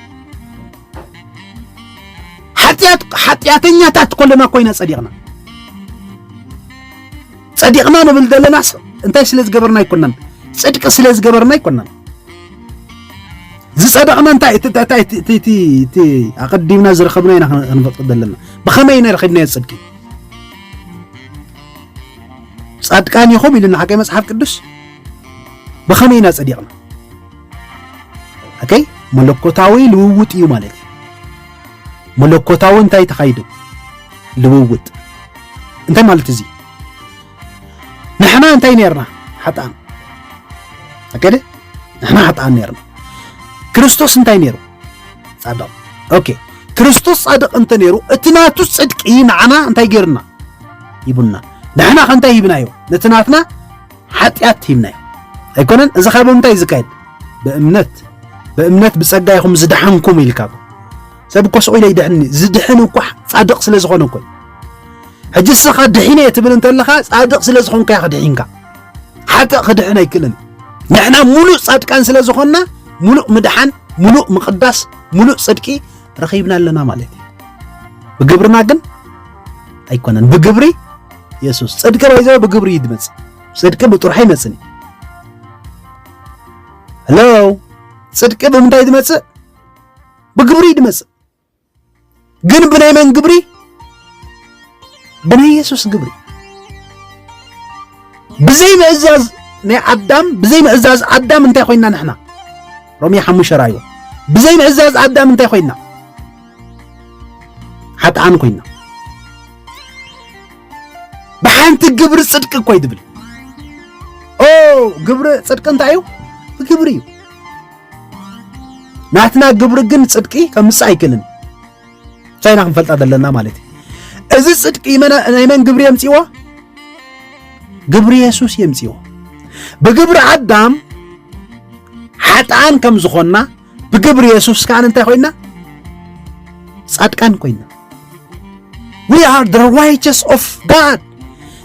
ሓጢያት ሓጢያተኛታት ኮለና ኮይና ጸዲቕና ጸዲቕና ንብል ዘለናስ እንታይ ስለ ዝገበርና ኣይኮናን ጽድቂ ስለ ዝገበርና ኣይኮናን ዝጸደቕና እንታይ እንታይ እቲ እቲ ኣቐዲምና ዝረኸብና ኢና ክንፈጥር ዘለና ብኸመይ ኢና ረኺብናዮ ጽድቂ ጻድቃን ኢኹም ኢሉና ሓቂ መጽሓፍ ቅዱስ ብኸመይ ኢና ጸዲቕና ኦከይ መለኮታዊ ልውውጥ እዩ ማለት እዩ መለኮታዊ እንታይ ተኻይዱ ልውውጥ እንታይ ማለት እዚ ንሕና እንታይ ነርና ሓጥኣን ኣከደ ንሕና ሓጥኣን ነርና ክርስቶስ እንታይ ነይሩ ጻድቕ ኦኬ ክርስቶስ ጻድቕ እንተ ነይሩ እቲ ናቱ ጽድቂ ንዓና እንታይ ገይርና ሂቡና ንሕና ከ እንታይ ሂብናዮ ነቲ ናትና ሓጢኣት ሂብናዮ ኣይኮነን እዚ ካብ ምንታይ ዝካየድ ብእምነት ብእምነት ብጸጋ ይኹም ዝደሓንኩም ኢልካ ሰብ እኮ ስቑኢለ ይድሕን እዩ ዝድሕን እኳ ጻድቕ ስለ ዝኾነ እኮ ሕጂ እስኻ ድሒነ እየ ትብል እንተለኻ ጻድቕ ስለ ዝኾንካ ኢኻ ድሒንካ ሓጥእ ክድሕን ኣይክእልን ንሕና ሙሉእ ጻድቃን ስለ ዝኾንና ሙሉእ ምድሓን ሙሉእ ምቕዳስ ሙሉእ ጽድቂ ረኺብና ኣለና ማለት እዩ ብግብርና ግን ኣይኮነን ብግብሪ የሱስ ጽድቂ ባይዘ ብግብሪ እዩ ዝመጽእ ጽድቂ ብጥርሑ ኣይመጽን እዩ ሄሎ ጽድቂ ብምንታይ ዝመጽእ ብግብሪ ድመጽእ ግን ብናይ መን ግብሪ? ብናይ የሱስ ግብሪ። ብዘይ ምእዛዝ ናይ ኣዳም ብዘይ ምእዛዝ ኣዳም እንታይ ኮይና ንሕና? ሮሜ ሓሙሽተ ራእይዎ ብዘይ ምእዛዝ ኣዳም እንታይ ኮይና? ሓጥኣን ኮይና ብሓንቲ ግብሪ ጽድቂ እኮ እዩ ትብል ኦ ግብሪ ጽድቂ እንታይ እዩ? ብግብሪ እዩ ናትና ግብሪ ግን ጽድቂ ከምጽእ ኣይክእልን ቻይና ክንፈልጣ ዘለና ማለት እዩ እዚ ጽድቂ ናይ መን ግብሪ የምጽዎ ግብሪ የሱስ የምጽዎ ብግብሪ ኣዳም ሓጥኣን ከም ዝኾንና ብግብሪ የሱስ ከዓ እንታይ ኮይና ጻድቃን ኮይና ዊ ኣር ደ ራይቸስ ኦፍ ጋድ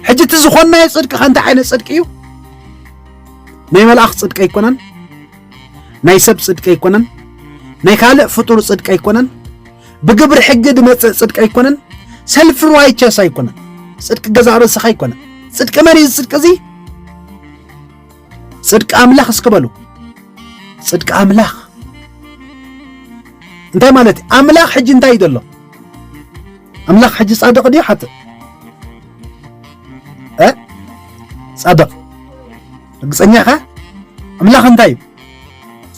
ሕጂ እቲ ዝኾንናዮ ጽድቂ ከ እንታይ ዓይነት ጽድቂ እዩ ናይ መልኣኽ ጽድቂ ኣይኮነን፣ ናይ ሰብ ጽድቂ ኣይኮነን፣ ናይ ካልእ ፍጡር ጽድቂ ኣይኮነን፣ ብግብሪ ሕጊ ድመጽእ ጽድቂ ኣይኮነን፣ ሰልፊ ርዋይቸስ ኣይኮነን፣ ጽድቂ ገዛእ ርእስኻ ኣይኮነን። ጽድቂ መን እዩ ጽድቂ እዚ? ጽድቂ ኣምላኽ እስኪ በሉ። ጽድቂ ኣምላኽ እንታይ ማለት እዩ? ኣምላኽ ሕጂ እንታይ እዩ ዘሎ? ኣምላኽ ሕጂ ጻድቕ ድዩ ሓጥእ? ፃድቕ ርግፀኛ ኢኻ? ኣምላኽ እንታይ እዩ?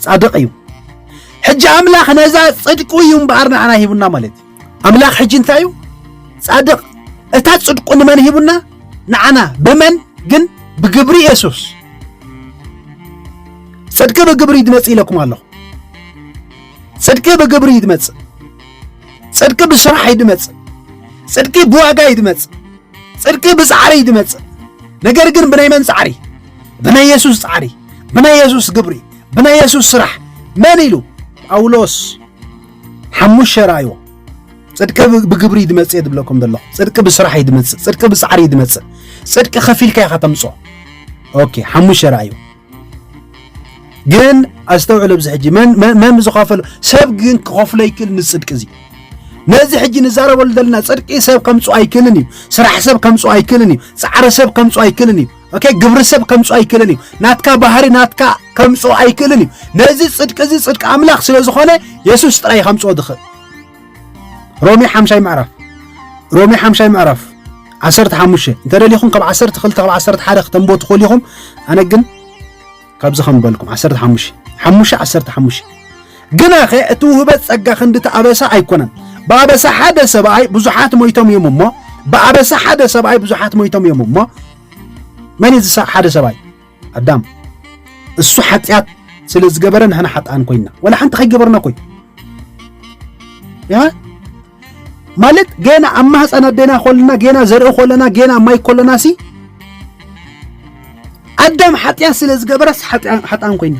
ፃድቕ እዩ። ሕጂ ኣምላኽ ነዛ ፅድቁ እዩ እምበኣር ንዓና ሂቡና ማለት እዩ። ኣምላኽ ሕጂ እንታይ እዩ? ፃድቕ እታ ፅድቁ ንመን ሂቡና? ንዓና። ብመን ግን? ብግብሪ የሱስ። ፅድቂ ብግብሪ እዩ ዝመፅእ ኢለኩም ኣለኹ። ፅድቂ ብግብሪ እዩ ዝመፅእ። ጽድቂ ብስራሕ እዩ ድመጽእ፣ ጽድቂ ብዋጋ እዩ ድመጽእ፣ ጽድቂ ብጻዕሪ እዩ ድመጽእ። ነገር ግን ብናይ መን ጻዕሪ? ብናይ የሱስ ጻዕሪ፣ ብናይ የሱስ ግብሪ፣ ብናይ የሱስ ስራሕ። መን ኢሉ? ጳውሎስ ሓሙሽ ራእዮ ጽድቂ ብግብሪ ድመጽእ እየ ድብለኩም ዘሎ። ጽድቂ ብስራሕ እዩ ድመጽእ፣ ጽድቂ ብጻዕሪ እዩ ድመጽእ። ጽድቂ ከፊልካ ኢኻ ተምጽኦ። ኦኬ ሓሙሽ ራእዩ ግን ኣስተውዕል ኣብዚ ሕጂ መን ዝኸፈሎ ሰብ ግን ክኸፍሎ ይክእል ንፅድቂ እዚ ነዚ ሕጂ ንዛረበሉ ዘለና ፅድቂ ሰብ ከምፁ ኣይክእልን እዩ ስራሕ ሰብ ከምፁ ኣይክእልን እዩ ፃዕሪ ሰብ ከምፁ ኣይክእልን እዩ ኦኬ ግብሪ ሰብ ከምፁ ኣይክእልን እዩ ናትካ ባህሪ ናትካ ከምፁ ኣይክእልን እዩ ነዚ ፅድቂ እዚ ፅድቂ ኣምላኽ ስለ ዝኾነ የሱስ ጥራይ ከምፅኦ ዝኽእል ሮሜ ሓምሻይ ምዕራፍ ሮሜ ሓምሻይ ምዕራፍ ዓሰርተ ሓሙሽተ እንተ ደሊኹም ካብ ዓሰርተ ክልተ ካብ ዓሰርተ ሓደ ክተንቦ ትኽእሉ ኢኹም ኣነ ግን ካብዚ ከም በልኩም ዓሰርተ ሓሙሽተ ሓሙሽተ ዓሰርተ ሓሙሽተ ግና ኸ እቲ ውህበት ጸጋ ክንዲ እቲ ኣበሳ ኣይኮነን ብኣበሳ ሓደ ሰብኣይ ብዙሓት ሞይቶም እዮም እሞ ብኣበሳ ሓደ ሰብኣይ ብዙሓት ሞይቶም እዮም እሞ መን እዩ ሓደ ሰብኣይ ኣዳም እሱ ሓጢኣት ስለ ዝገበረ ንሕና ሓጥኣን ኮይና ወላ ሓንቲ ከይገበርና ኮይ ማለት ገና ኣብ ማህፀን ኣዴና ኮለና ገና ዘርኢ ኮለና ገና ማይ ኮለና ሲ ኣዳም ሓጢኣት ስለ ዝገበረስ ሓጥኣን ኮይና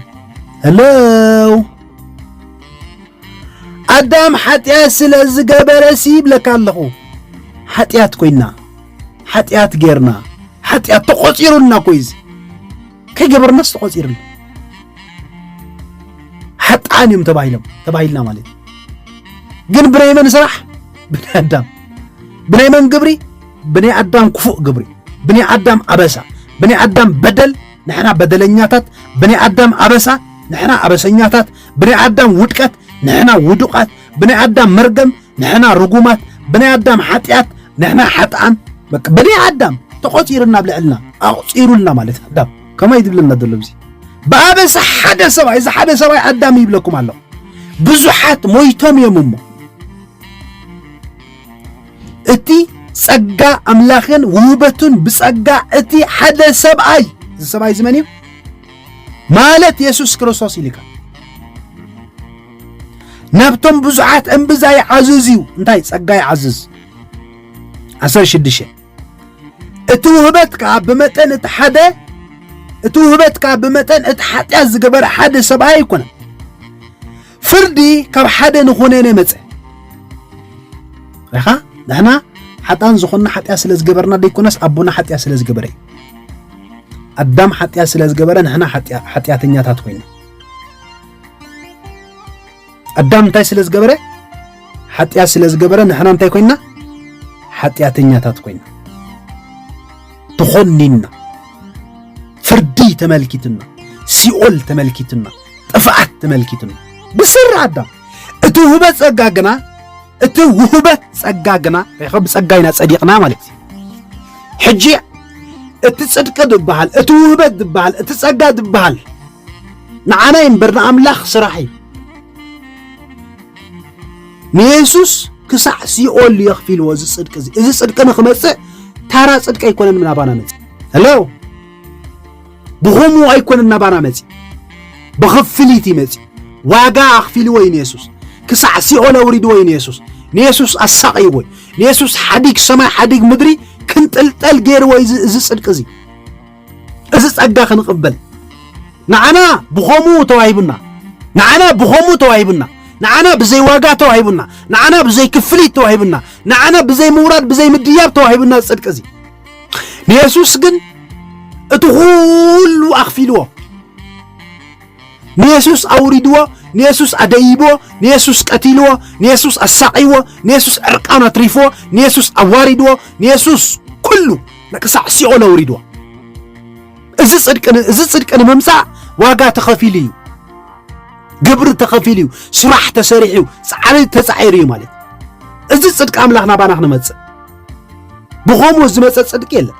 ሄሎ ኣዳም ሓጢኣት ስለ ዝገበረሲ ይብለካ ኣለኹ ሓጢኣት ኮይና ሓጢኣት ጌርና ሓጢኣት ተቖፂሩልና እኮ እዩ እዚ ከይገበርናስ ተቖፂርልና ሓጥኣን እዮም ተባሂሎም ተባሂልና ማለት እዩ ግን ብናይ መን ስራሕ ብናይ ኣዳም ብናይ መን ግብሪ ብናይ ኣዳም ክፉእ ግብሪ ብናይ ኣዳም ኣበሳ ብናይ ኣዳም በደል ንሕና በደለኛታት ብናይ ኣዳም ኣበሳ ንሕና ኣበሰኛታት ብናይ ኣዳም ውድቀት ንሕና ውዱቃት ብናይ ኣዳም መርገም ንሕና ርጉማት ብናይ ኣዳም ሓጢኣት ንሕና ሓጥኣን በቃ ብናይ ኣዳም ተቖፂርና ኣብ ልዕልና ኣቑፂሩልና ማለት ኣዳም ከማይ ዝብለና ዘሎ እዚ ብኣበሳ ሓደ ሰብኣይ እዚ ሓደ ሰብኣይ ኣዳም ይብለኩም ኣለኹ ብዙሓት ሞይቶም እዮም እሞ እቲ ጸጋ ኣምላኽን ውህበቱን ብጸጋ እቲ ሓደ ሰብኣይ እዚ ሰብኣይ ዝመን እዩ ማለት የሱስ ክርስቶስ ኢልካ ናብቶም ብዙሓት እምብዛ ይዓዝዝ እዩ እንታይ ጸጋ ይዓዝዝ ዓሰርተ ሽዱሽተ እቲ ውህበት ከዓ ብመጠን እቲ ሓደ እቲ ውህበት ከዓ ብመጠን እቲ ሓጢኣት ዝገበረ ሓደ ሰብኣይ ኣይኮነ ፍርዲ ካብ ሓደ ንኾነነ መፀ ኻ ንሕና ሓጣን ዝኾንና ሓጢኣት ስለ ዝገበርና ደይኮነስ ኣቦና ሓጢኣት ስለ ዝገበረ እዩ ኣዳም ሓጢኣት ስለ ዝገበረ ንሕና ሓጢኣተኛታት ኮይና ኣዳም እንታይ ስለ ዝገበረ ሓጢኣት ስለ ዝገበረ ንሕና እንታይ ኮይና ሓጢኣተኛታት ኮይና ተኾኒና ፍርዲ ተመልኪትና ሲኦል ተመልኪትና ጥፍኣት ተመልኪትና ብስሪ ኣዳም እቲ ውህበ ጸጋ ግና እቲ ውህበ ጸጋ ግና ሪኸ ብጸጋ ኢና ጸዲቕና ማለት እዩ ሕጂ እቲ ጽድቂ ዝበሃል እቲ ውህበት ዝበሃል እቲ ጸጋ ዝበሃል ንዓናይ እምበር ንኣምላኽ ስራሕ እዩ። ንየሱስ ክሳዕ ሲኦል እዩ ኣኽፊልዎ እዚ ጽድቂ እዚ እዚ ጽድቂ ንክመጽእ ታራ ጽድቂ ኣይኮነን ናባና መጽ ሄሎ ብኸምኡ ኣይኮነን ናባና መጽ ብኽፍሊት እዩ መጽ ዋጋ ኣኽፊልዎ እዩ ንየሱስ ክሳዕ ሲኦል ኣውሪድዎ እዩ ንየሱስ ንየሱስ ኣሳቒይዎ እዩ ንየሱስ ሓዲግ ሰማይ ሓዲግ ምድሪ ክንጥልጠል ገይርዎ እዚ ጽድቂ እዚ እዚ ጸጋ ክንቕበል ንዓና ብኸምኡ ተዋሂቡና ንዓና ብኸምኡ ተዋሂቡና ንዓና ብዘይ ዋጋ ተዋሂቡና ንዓና ብዘይ ክፍሊት ተዋሂቡና ንዓና ብዘይ ምውራድ ብዘይ ምድያብ ተዋሂቡና ጽድቂ እዚ ንየሱስ ግን እቲ ኹሉ ኣኽፊልዎ ንየሱስ ኣውሪድዎ ንየሱስ ኣደይብዎ ንየሱስ ቀቲልዎ ንየሱስ ኣሳቂዎ ንየሱስ ዕርቃን ኣትሪፍዎ ንየሱስ ኣዋሪድዎ ንየሱስ ኩሉ ንክሳዕ ሲኦል ኣውሪድዋ። እዚ ጽድቂ ን- እዚ ጽድቂ ንምምጻእ ዋጋ ተኸፊሉ እዩ፣ ግብሪ ተኸፊሉ እዩ፣ ስራሕ ተሰሪሑ እዩ፣ ጻዕሪ ተጻዒሩ እዩ ማለት እዩ። እዚ ጽድቂ ኣምላኽ ናባና ክንመጽእ ብኸምኡ ዝመጸ ጽድቂ የለን፣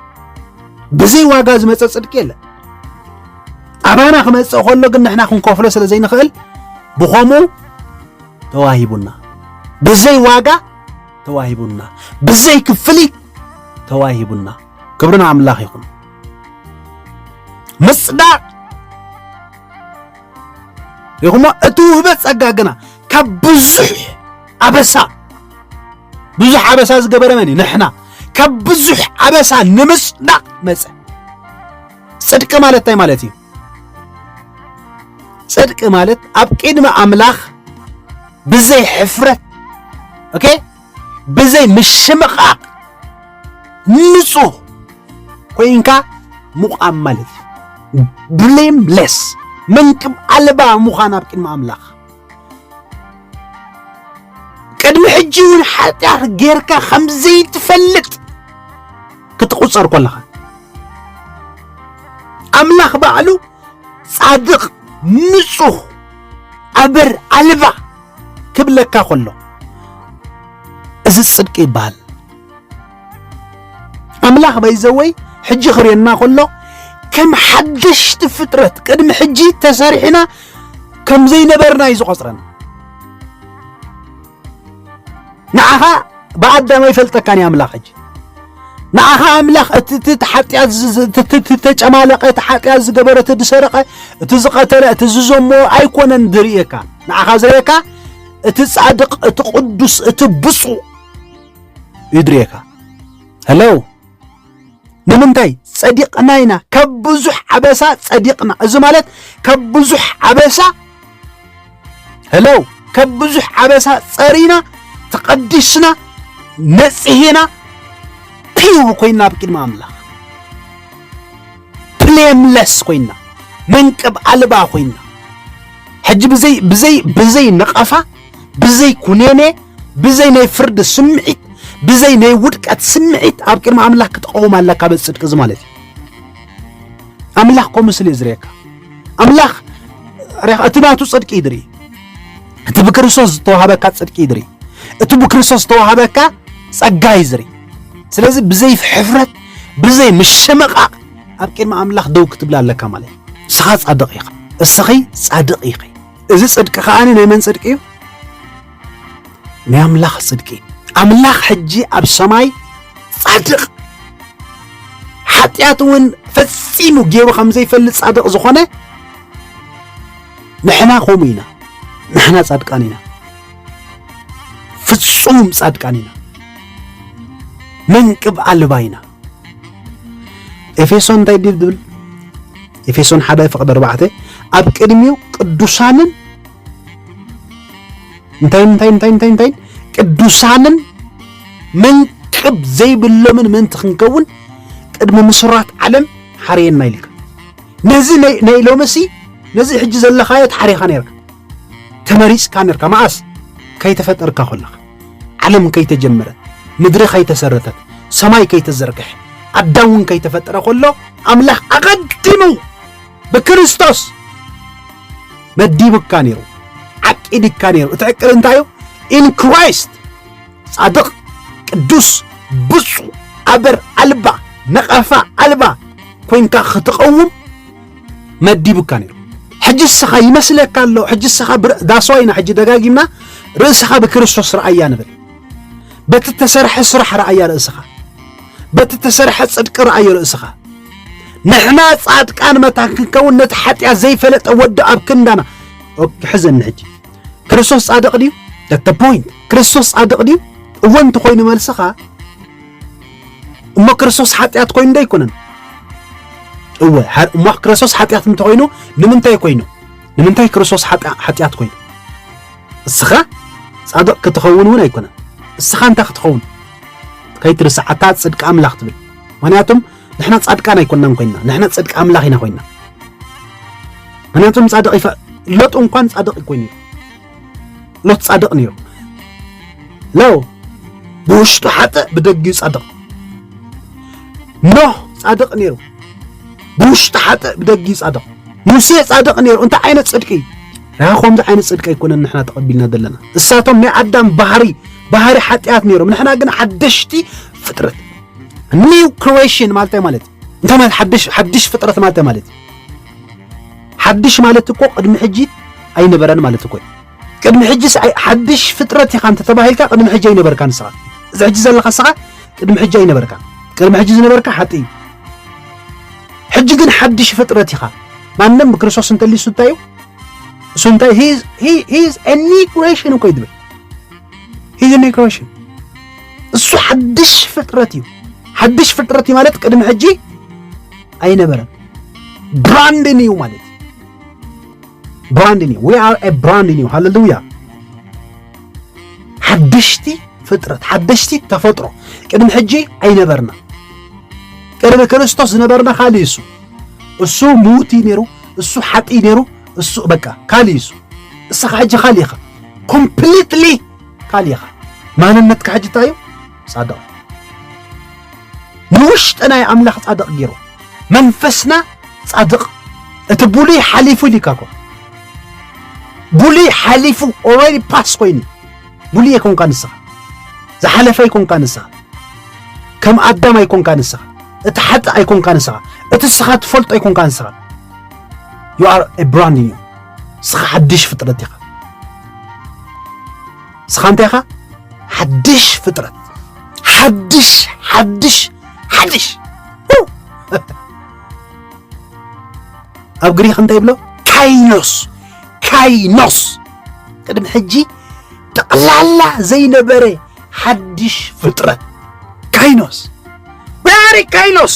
ብዘይ ዋጋ ዝመጸ ጽድቂ የለን። ኣባና ክመጽእ ከሎ ግን ንሕና ክንከፍሎ ስለ ዘይንኽእል ብኸምኡ ተዋሂቡና ብዘይ ዋጋ ተዋሂቡና ብዘይ ክፍሊት ተዋሂቡና። ክብርን ኣምላኽ ይኹን። ምጽዳቕ ይኹሞ እቲ ውህበ ጸጋ ግና ካብ ብዙሕ ኣበሳ ብዙሕ ኣበሳ ዝገበረ መን እዩ? ንሕና ካብ ብዙሕ ኣበሳ ንምጽዳቕ መጸ። ጽድቂ ማለት እንታይ ማለት እዩ? ጽድቂ ማለት ኣብ ቅድሚ ኣምላኽ ብዘይ ሕፍረት ኦኬ ብዘይ ምሽምቓቕ ንጹህ ኮይንካ ምቛም ማለት እዩ ብሌምለስ መንቅብ ኣልባ ምዃን ኣብ ቅድሚ ኣምላኽ ቅድሚ ሕጂ እውን ሓጢኣት ጌርካ ከም ዘይትፈልጥ ክትቑፀር ኮለኻ ኣምላኽ ባዕሉ ጻድቕ ንጹህ ኣበር ኣልባ ክብለካ ኮሎ እዚ ጽድቂ ይበሃል ኣምላኽ በይዘወይ ሕጂ ክርእየና ከሎ ከም ሓደሽቲ ፍጥረት ቅድሚ ሕጂ ተሰሪሕና ከም ዘይነበርና እዩ ዝቆጽረና ንዓኻ ብኣዳም ኣይፈልጠካን እዩ ኣምላኽ ሕጂ ንዓኻ ኣምላኽ እቲ ሓጢኣት ተጨማለቐ እቲ ሓጢኣት ዝገበረ እቲ ዝሰረቐ እቲ ዝቐተለ እቲ ዝዘሞ ኣይኮነን ዝርእየካ ንዓኻ ዝርእየካ እቲ ጻድቕ እቲ ቅዱስ እቲ ብፁዕ ይድርየካ ሄሎ ንምንታይ ጸዲቕና ኢና ካብ ብዙሕ ዓበሳ ጸዲቕና እዚ ማለት ካብ ብዙሕ ዓበሳ ሄሎ ካብ ብዙሕ ዓበሳ ጸሪና ተቐዲስና ነጽሄና ፒው ኮይና ኣብ ቅድሚ ኣምላኽ ብሌምለስ ኮይና መንቅብ ኣልባ ኮይና ሕጂ ብዘይ ብዘይ ብዘይ ነቐፋ ብዘይ ኩኔኔ ብዘይ ናይ ፍርዲ ስምዒት ብዘይ ናይ ውድቀት ስምዒት ኣብ ቅድሚ ኣምላኽ ክትቐውም ኣለካ በዚ ጽድቂ እዚ ማለት እዩ ኣምላኽ ከምኡ ስለ እዩ ዝርእየካ ኣምላኽ እቲ ናቱ ጽድቂ ይድሪ እቲ ብክርስቶስ ዝተዋሃበካ ጽድቂ ይድሪ እቲ ብክርስቶስ ዝተዋሃበካ ጸጋ ይዝሪ ስለዚ ብዘይ ሕፍረት ብዘይ ምሽምቓቕ ኣብ ቅድሚ ኣምላኽ ደው ክትብላ ኣለካ ማለት እዩ እስኻ ጻድቕ ኢኻ እስኺ ጻድቕ ኢኺ እዚ ጽድቂ ከኣ ናይ መን ጽድቂ እዩ? ናይ ኣምላኽ ጽድቂ። ኣምላኽ ሕጂ ኣብ ሰማይ ጻድቕ ሓጢኣት እውን ፈጺሙ ገይሩ ከም ዘይፈልጥ ጻድቕ ዝኾነ ንሕና ከምኡ ኢና። ንሕና ጻድቃን ኢና፣ ፍጹም ጻድቃን ኢና፣ መንቅብ ኣልባ ኢና። ኤፌሶን እንታይ ድዩ ዝብል ኤፌሶን ሓደ ፍቕዲ ኣርባዕተ ኣብ ቅድሚኡ ቅዱሳንን እንታይ እንታይ እንታይ እንታይ እንታይ ቅዱሳንን መንቅብ ዘይብሎምን ምእንቲ ክንከውን ቅድሚ ምስራት ዓለም ሓርየና ኢልካ ነዚ ናይ ሎምሲ ነዚ ሕጂ ዘለኻዮ ተሓሪኻ ነርካ ተመሪጽካ ነርካ መኣስ ከይተፈጠርካ ኮለኻ ዓለም ከይተጀመረት ምድሪ ከይተሰረተት ሰማይ ከይተዘርግሐ ኣዳም ውን ከይተፈጠረ ኮሎ ኣምላኽ ኣቐዲሙ ብክርስቶስ መዲቡካ ነይሩ ዓቂድካ ነይሩ እቲ ዕቅድ እንታይ እዩ ኢን ክራይስት ጻድቕ ቅዱስ ብፁዕ ኣበር ኣልባ ነቐፋ ኣልባ ኮንካ ክትቐውም መዲቡካ ነይሩ ሕጂ እስኻ ይመስለካ ኣሎ ሕጂ እስኻ ዳስዋ ኢና ሕጂ ደጋጊምና ርእስኻ ብክርስቶስ ረኣያ ንብል በቲ እተሰርሐ ስራሕ ረኣያ ርእስኻ በቲ እተሰርሐ ጽድቂ ረኣዮ ርእስኻ ንሕና ጻድቃን መታን ክንከውን ነቲ ሓጢኣት ዘይፈለጠ ወዲ ኣብ ክንዳና ሕዘኒ ሕጂ ክርስቶስ ጻድቕ ድዩ ፖይንት ክርስቶስ ጻድቕ ድዩ እወ እንተኾይኑ መልስኻ እሞ ክርስቶስ ሓጢኣት ኮይኑ ዶ ኣይኮነን? እወ እሞ ክርስቶስ ሓጢኣት እንተኮይኑ ንምንታይ ኮይኑ? ንምንታይ ክርስቶስ ሓጢኣት ኮይኑ? እስኻ ጻድቕ ክትኸውን እውን ኣይኮነን። እስኻ እንታይ ክትኸውን ከይትርስዓታ ጽድቂ ኣምላኽ ትብል። ምክንያቱም ንሕና ጻድቃን ኣይኮናን ኮይና ንሕና ጽድቂ ኣምላኽ ኢና ኮይና። ምክንያቱም ጻድቕ ሎጥ እንኳን ጻድቕ ኮይኑ እዩ ሎጥ ጻድቕ ነይሩ። ለው ብውሽጡ ሓጥእ ብደጊኡ ጻድቕ። ኖህ ጻድቕ ነይሩ። ብውሽጡ ሓጥእ ብደጊኡ ጻድቕ። ሙሴ ጻድቕ ነይሩ። እንታይ ዓይነት ጽድቂ እዩ? ራ ከምዚ ዓይነት ጽድቂ ኣይኮነን ንሕና ተቐቢልና ዘለና። እሳቶም ናይ ኣዳም ባህሪ ባህሪ ሓጢኣት ነይሮም፣ ንሕና ግን ሓደሽቲ ፍጥረት ኒው ክሬሽን ማለት ማለት እንታይ ማለት ሓድሽ ሓድሽ ፍጥረት ማለት እንታይ ማለት እዩ? ሓድሽ ማለት እኮ ቅድሚ ሕጂ ኣይነበረን ማለት እኮ እዩ። ቅድሚ ሕጂስ ሓድሽ ፍጥረት ኢኻ እንተተባሂልካ ቅድሚ ሕጂ ኣይነበርካን ንስኻ እዚ ሕጂ ዘለኻ ንስኻ ቅድሚ ሕጂ ኣይነበርካን። ቅድሚ ሕጂ ዝነበርካ ሓጢ እዩ። ሕጂ ግን ሓድሽ ፍጥረት ኢኻ። ማንም ብክርስቶስ እንተልዩ እሱ እንታይ እዩ? እሱ እንታይ ሂዝ ኒው ክሬሽን እኮ እዩ ዝብል ሂዝ ኒው ክሬሽን እሱ ሓድሽ ፍጥረት እዩ። ሓድሽ ፍጥረት እዩ ማለት ቅድሚ ሕጂ ኣይነበረን። ብራንድ ኒው ማለት ብራንድ ኒው ዊ ኣር ኤ ብራንድ ኒው ሃሌሉያ። ሓደሽቲ ፍጥረት ሓደሽቲ ተፈጥሮ ቅድሚ ሕጂ ኣይነበርና። ቅድሚ ክርስቶስ ዝነበርና ካልእ እሱ እሱ ምውት እዩ ነይሩ፣ እሱ ሓጢ ነይሩ፣ እሱ በቃ ካልእ እሱ እስኻ ሕጂ ካልእ ኢኻ ኮምፕሊትሊ ካል ኢኻ ማንነትካ ሕጂ እንታይ እዩ ጻድቕ ንውሽጥና ዩ ኣምላኽ ጻድቕ ጌሩ መንፈስና ጻድቕ እቲ ብሉይ ሓሊፉ ኢልካ እኮ ብሉይ ሓሊፉ ኦልሬዲ ፓስ ኮይኑ ብሉይ ኣይኮንካ ንስኻ ዝሓለፈ ኣይኮንካ ንስኻ ከም ኣዳም ኣይኮንካ ንስኻ እቲ ሓጥእ ኣይኮንካ ንስኻ እቲ ንስኻ ትፈልጦ ኣይኮንካ ንስኻ ዩ ኣር ብራንድ ዩ ንስኻ ሓድሽ ፍጥረት ኢኻ ንስኻ እንታይ ኢኻ ሓድሽ ፍጥረት ሓድሽ ሓድሽ ሓድሽ ኣብ ግሪክ እንታይ ይብሎ ካይኖስ ካይኖስ ቅድሚ ሕጂ ጠቕላላ ዘይነበረ ሓድሽ ፍጥረት ካይኖስ ባሪ ካይኖስ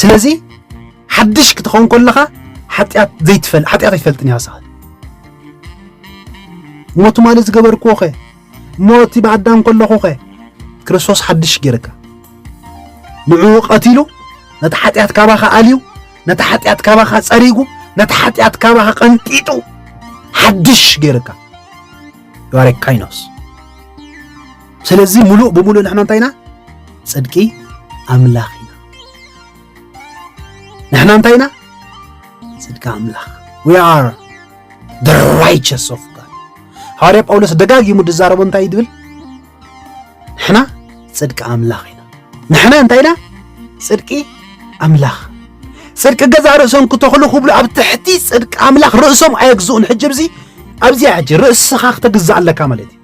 ስለዚ ሓድሽ ክትኸውን ከለኻ ሓጢኣት ዘይትፈል ሓጢኣት ኣይትፈልጥን እያ ሰዓት እሞ ትማሊ ዝገበርክዎ ኸ እሞ እቲ ብኣዳም ከለኹ ኸ ክርስቶስ ሓድሽ ገይረካ ንዕኡ ቀቲሉ ነቲ ሓጢኣት ካባኻ ኣልዩ ነቲ ሓጢኣት ካባኻ ጸሪጉ ነቲ ሓጢኣት ካባኻ ቀንጢጡ ሓድሽ ገይርካ ዩኣሬ ካይኖስ ስለዚ ሙሉእ ብምሉእ ንሕና እንታይ ኢና ጽድቂ ኣምላኽ ንሕና እንታይ ኢና ጽድቂ ኣምላኽ ዊ ኣር ደ ራይቸስ ኦፍ ጋድ ሃዋርያ ጳውሎስ ደጋጊሙ ድዛረቦ እንታይ ድብል ንሕና ጽድቂ ኣምላኽ ኢና ንሕና እንታይ ኢና ጽድቂ ኣምላኽ ጽድቂ ገዛ ርእሶም ክተኽሉ ክብሉ ኣብ ትሕቲ ጽድቂ ኣምላኽ ርእሶም ኣየግዝኡን ሕጂ ብዚ ኣብዚኣ ሕጂ ርእስኻ ክተግዛእ ኣለካ ማለት እዩ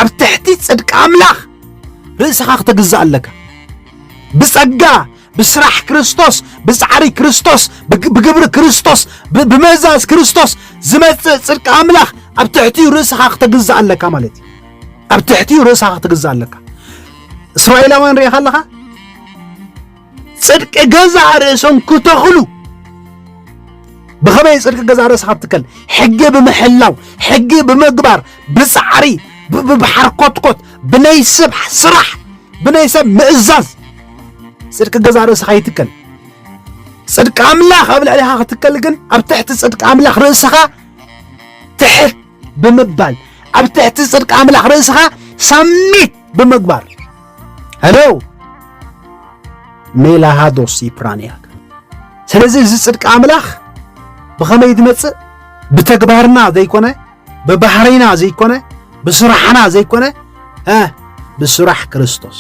ኣብ ትሕቲ ጽድቂ ኣምላኽ ርእስኻ ክትግዛእ ኣለካ ብጸጋ ብስራሕ ክርስቶስ ብጻዕሪ ክርስቶስ ብግብሪ ክርስቶስ ብምእዛዝ ክርስቶስ ዝመጽእ ጽድቂ ኣምላኽ ኣብ ትሕቲኡ ርእስኻ ክትግዛእ ኣለካ ማለት እዩ ኣብ ትሕቲኡ ርእስኻ ክትግዛእ ኣለካ እስራኤላውያን ርኢኻ ኣለኻ ጽድቂ ገዛእ ርእሶም ክተኽሉ ብኸመይ ጽድቂ ገዛእ ርእስኻ ትከል ሕጊ ብምሕላው ሕጊ ብምግባር ብጻዕሪ ብሓርኮትኮት ብናይ ሰብ ስራሕ ብናይ ሰብ ምእዛዝ ጽድቂ ገዛእ ርእስኻ ይትከል ጽድቂ ኣምላኽ ኣብ ልዕሊኻ ክትከል ግን ኣብ ትሕቲ ጽድቂ ኣምላኽ ርእስኻ ትሕት ብምባል ኣብ ትሕቲ ጽድቂ ኣምላኽ ርእስኻ ሳሚት ብምግባር ሄሎ ሜላሃዶስ ይፕራንያክ ስለዚ እዚ ጽድቂ ኣምላኽ ብኸመይ ዝመጽእ ብተግባርና ዘይኮነ ብባህሪና ዘይኮነ ብስራሕና ዘይኮነ ብስራሕ ክርስቶስ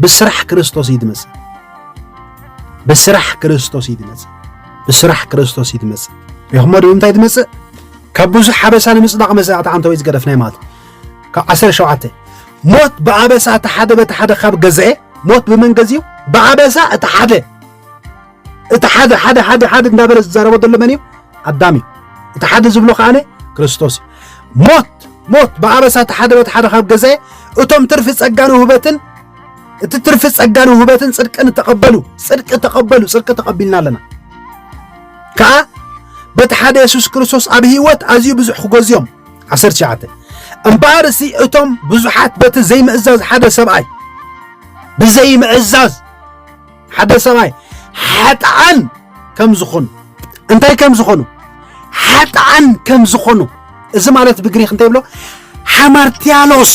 ብስራሕ ክርስቶስ እዩ ዝመጽእ ብስራሕ ክርስቶስ እዩ ዝመጽእ ብስራሕ ክርስቶስ እዩ ትመጽእ ሪኹሞ ዶ እንታይ ትመጽእ ካብ ብዙሕ ሓበሳ ንምጽዳቕ መዛዕቲ ዓንተ ወይ ዝገደፍ ናይ ማለት ካብ 17 ሞት ብኣበሳ እቲ ሓደ በቲ ሓደ ካብ ገዝአ ሞት ብመንገዝ እዩ ብኣበሳ እቲ ሓደ እቲ ሓደ ሓደ ሓደ ሓደ እንዳበለ ዝዛረቦ ዘሎ መን እዩ ኣዳም እዩ እቲ ሓደ ዝብሎ ከዓነ ክርስቶስ እዩ ሞት ሞት ብኣበሳ እቲ ሓደ በቲ ሓደ ካብ ገዝአ እቶም ትርፊ ጸጋን ውህበትን እቲ ትርፊ ጸጋን ውህበትን ጽድቅን ተቐበሉ ጽድቂ ተቐበሉ ጽድቂ ተቐቢልና ኣለና ከዓ በቲ ሓደ የሱስ ክርስቶስ ኣብ ህይወት ኣዝዩ ብዙሕ ክገዝዮም 19 እምበኣር እሲ እቶም ብዙሓት በቲ ዘይምእዛዝ ሓደ ሰብኣይ ብዘይምእዛዝ ሓደ ሰብኣይ ሓጥዓን ከም ዝኾኑ እንታይ ከም ዝኾኑ ሓጥዓን ከም ዝኾኑ እዚ ማለት ብግሪክ እንታይ ብሎ ሓማርቲያሎስ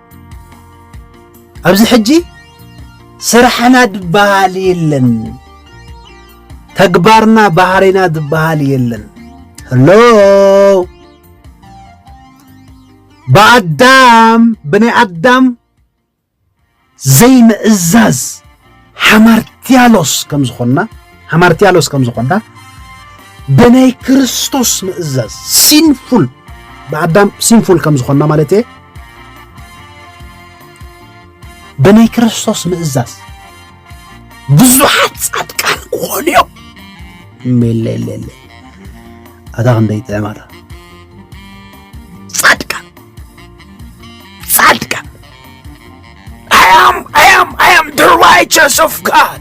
ኣብዚ ሕጂ ስራሕና ድበሃል የለን፣ ተግባርና ባህሪና ድበሃል የለን። ሄሎ ብኣዳም ብናይ ኣዳም ዘይምእዛዝ ሓማርትያሎስ ከም ዝኾንና ሓማርትያሎስ ከም ዝኾንና ብናይ ክርስቶስ ምእዛዝ ሲንፉል ብኣዳም ሲንፉል ከም ዝኾንና ማለት እየ ብናይ ክርስቶስ ምእዛዝ ብዙሓት ጻድቃን ክኾኑ እዮም ሜለለለ ኣታ ክንደይ ጥዕማታ I am, I am, I am the righteous of God.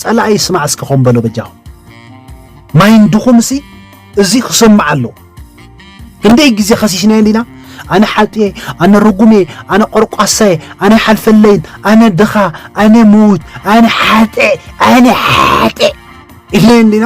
ጸላኢ ስማዕ እስከ ኮም በሎ በጃኹም ማይንድኹም እሲ እዚ ክሰማዕ ኣሎ ክንደይ ግዜ ከሲስናዮ እንዲና ኣነ ሓጥየ ኣነ ርጉሜ ኣነ ቆርቋሳየ ኣነ ሓልፈለይን ኣነ ድኻ ኣነ ምዉት ኣነ ሓጠ ኣነ ሓጠ ኢልና እንዲና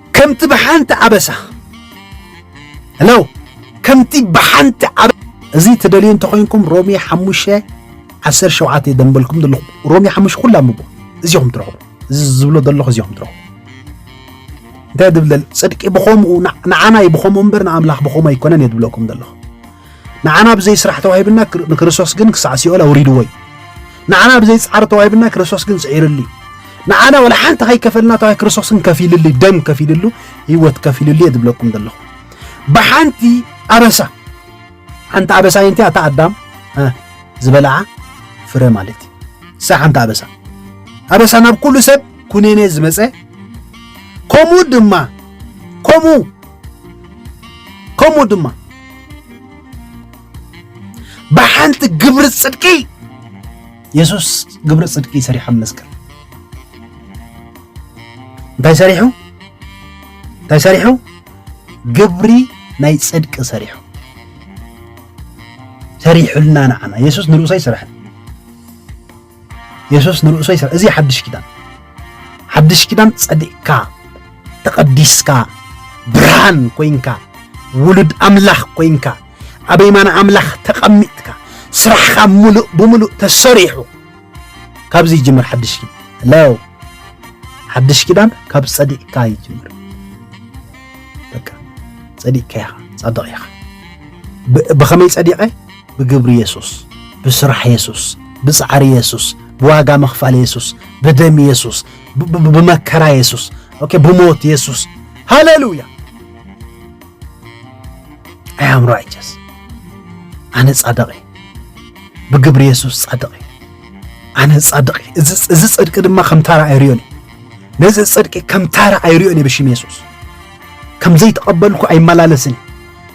ከምቲ ብሓንቲ ኣበሳ ሄሎ ከምቲ ብሓንቲ ኣበ እዚ ትደልዩ እንተኾይንኩም ሮሚ ሓሙሽተ ዓሰርተ ሸውዓተ እዩ ደንበልኩም ዘለኹ ሮሚ ሓሙሽተ ኩላ ምቦ እዚኹም ትረኽቡ እዚ ዝብሎ ዘለኹ እዚኹም ትረኽቡ እንታይ ድብለል ጽድቂ ብኸምኡ ንዓና እዩ ብኸምኡ እምበር ንኣምላኽ ብኸምኡ ኣይኮነን እየ ድብለኩም ዘለኹ ንዓና ብዘይ ስራሕ ተዋሂብና ንክርስቶስ ግን ክሳዕ ሲኦል ኣውሪድዎ እዩ። ንዓና ብዘይ ጻዕሪ ተዋሂብና ክርስቶስ ግን ጽዒርሉ እዩ። ንዓና ወላ ሓንቲ ከይከፈልና ተዋሂ ክርስቶስ ግን ከፊልሉ ደም ከፊልሉ ህይወት ከፊልሉ እየ ዝብለኩም ዘለኹ ብሓንቲ ኣበሳ ሓንቲ ኣበሳ ይንቲ ኣታ ኣዳም ዝበልዓ ፍረ ማለት እዩ እሳ ሓንቲ ኣበሳ ኣበሳ ናብ ኩሉ ሰብ ኩነኔ ዝመፀ ከምኡ ድማ ከምኡ ከምኡ ድማ ብሓንቲ ግብሪ ፅድቂ የሱስ ግብሪ ፅድቂ ሰሪሑ ኣብ መስቀል እንታይ ሰሪሑ እንታይ ሰሪሑ ግብሪ ናይ ፅድቂ ሰሪሑ ሰሪሑልና ንዓና የሱስ ንርእሶ ኣይስራሕን የሱስ ንርእሱ ይሰ እዚ ሓድሽ ኪዳን ሓድሽ ኪዳን ጸዲቕካ ተቐዲስካ ብርሃን ኮንካ ውሉድ ኣምላኽ ኮንካ ኣብ የማን ኣምላኽ ተቐሚጥካ ስራሕኻ ሙሉእ ብምሉእ ተሰሪሑ ካብዚ ይጅምር ሓድሽ ኪዳን ለው ሓድሽ ኪዳን ካብ ጸዲቕካ ይጅምር በቃ ጸዲቕካ ኢኻ ጻድቕ ኢኻ ብኸመይ ጸዲቐ ብግብሪ የሱስ፣ ብስራሕ የሱስ፣ ብጻዕሪ የሱስ፣ ብዋጋ ምኽፋል የሱስ፣ ብደም የሱስ፣ ብመከራ የሱስ፣ ኦኬ ብሞት የሱስ። ሃሌሉያ! ኣይ ኣም ራይቸስ ኣነ ጻድቕ እየ ብግብሪ የሱስ ጻድቕ እየ ኣነ ጻድቕ እየ እዚ ጽድቂ ድማ ከም ታራ ኣይርዮን እየ ነዚ ጽድቂ ከም ታራ ኣይርዮን እየ ብሽም የሱስ ከም ዘይተቐበልኩ ኣይመላለስን እየ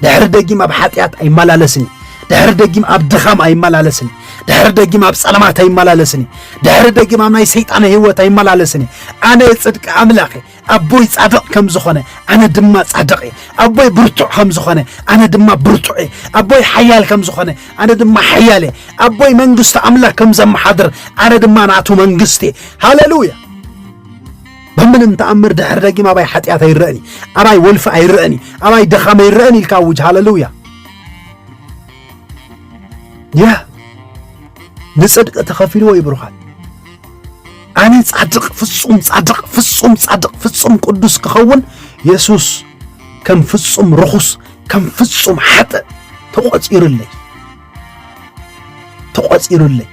ድሕሪ ደጊም ኣብ ሓጢኣት ኣይመላለስን እዩ ድሕሪ ደጊም ኣብ ድኻም ኣይመላለስን እዩ ድሕሪ ደጊም ኣብ ጸለማት ኣይመላለስን እዩ ድሕሪ ደጊም ኣብ ናይ ሰይጣን ህይወት ኣይመላለስን እዩ ኣነ ጽድቂ ኣምላኽ እየ ኣቦይ ጻድቕ ከም ዝኾነ ኣነ ድማ ጻድቕ እየ ኣቦይ ብርቱዕ ከም ዝኾነ ኣነ ድማ ብርቱዕ እየ ኣቦይ ሓያል ከም ዝኾነ ኣነ ድማ ሓያል እየ ኣቦይ መንግስቲ ኣምላኽ ከም ዘመሓድር ኣነ ድማ ናቱ መንግስቲ እየ ሃለሉያ ብምንም ተኣምር ድሕሪ ደጊም ኣባይ ሓጢኣት ኣይረእን እዩ ኣባይ ወልፊ ኣይረእን እዩ ኣባይ ደኻመ ይረእን ኢልካ ኣውጅ ሃለሉያ ያ ንፅድቂ ተኸፊልዎ እዩ ብሩኻት ኣነ ጻድቕ ፍጹም ጻድቕ ፍጹም ጻድቕ ፍጹም ቅዱስ ክኸውን የሱስ ከም ፍጹም ርኹስ ከም ፍጹም ሓጥእ ተቖጺሩለይ ተቖጺሩለይ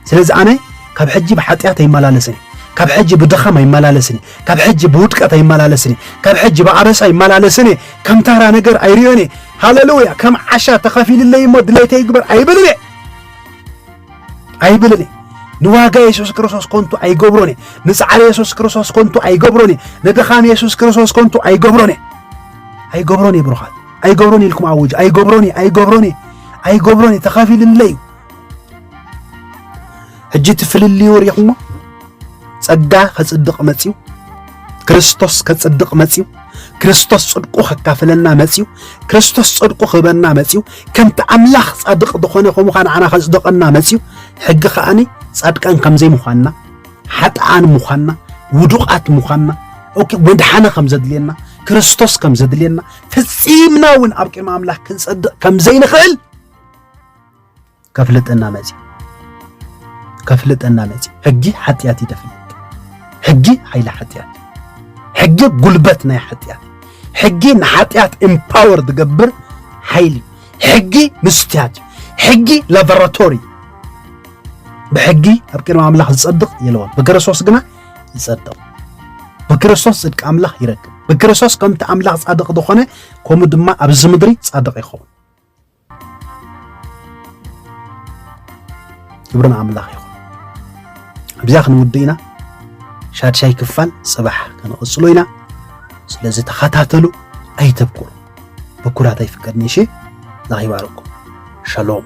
ስለዚ ኣነ ካብ ሕጂ ብሓጢኣት ኣይመላለስን እየ፣ ካብ ሕጂ ብድኻም ኣይመላለስን እየ፣ ካብ ሕጂ ብውድቀት ኣይመላለስን እየ፣ ካብ ሕጂ ብኣበሳ ኣይመላለስን እየ፣ ከም ታራ ነገር ኣይርእዮን እየ፣ ሃለሉያ፣ ከም ዓሻ ተኸፊልለይ እሞ ድሌተይ ይግበር ኣይብልን እየ ኣይብልን እየ። ንዋጋ የሱስ ክርስቶስ ኮንቱ ኣይገብሮን እየ። ንጻዕሪ የሱስ ክርስቶስ ኮንቱ ኣይገብሮን እየ። ንድኻም የሱስ ክርስቶስ ኮንቱ ኣይገብሮን እየ። ኣይገብሮን እየ ብሩኻት፣ ኣይገብሮን እየ ኢልኩም ኣውጅ። ኣይገብሮን እየ፣ ኣይገብሮን እየ፣ ኣይገብሮን እየ፣ ተኸፊልለይ እዩ። ሕጂ እቲ ፍልልዩ ርኢኹሞ ጸጋ ከጽድቕ መጽዩ ክርስቶስ ከጽድቕ መጽዩ ክርስቶስ ጽድቁ ከካፍለና መጽዩ ክርስቶስ ጽድቁ ክህበና መጽዩ ከምቲ ኣምላኽ ጻድቕ ዝኾነ ከምኡ ኸዓ ንዓና ከጽድቐና መጽዩ ሕጊ ከዓኒ ጻድቃን ከም ዘይምዃንና ሓጥኣን ምዃንና ውዱቓት ምዃንና ኦኬ ወድሓነ ከም ዘድልየና ክርስቶስ ከም ዘድልየና ፈጺምና እውን ኣብ ቅድሚ ኣምላኽ ክንጸድቕ ከም ዘይንኽእል ከፍልጠና መጽዩ ከፍልጠና መጽዩ ሕጊ ሓጢኣት እዩ ተፍልጥ ሕጊ ሓይሊ ሓጢኣት ሕጊ ጉልበት ናይ ሓጢኣት ሕጊ ንሓጢኣት ኤምፓወር ዝገብር ሓይሊ ሕጊ ምስትያት ሕጊ ላቦራቶሪ ብሕጊ ኣብ ቅድሚ ኣምላኽ ዝጸድቕ የለዎን ብክርስቶስ ግና ይጸድቕ ብክርስቶስ ጽድቂ ኣምላኽ ይረክብ ብክርስቶስ ከምቲ ኣምላኽ ጻድቕ ዝኾነ ከምኡ ድማ ኣብዚ ምድሪ ጻድቕ ይኸውን ክብሪ ንኣምላኽ ይኹን ኣብዛ ክንውድእ ኢና ሻድሻይ ክፋል ፅባሕ ክንቕፅሎ ኢና ስለዚ ተኸታተሉ ኣይተብኩሩ ብኩራት ኣይፍቀድን እሺ ላኽ ይባርኩም ሸሎም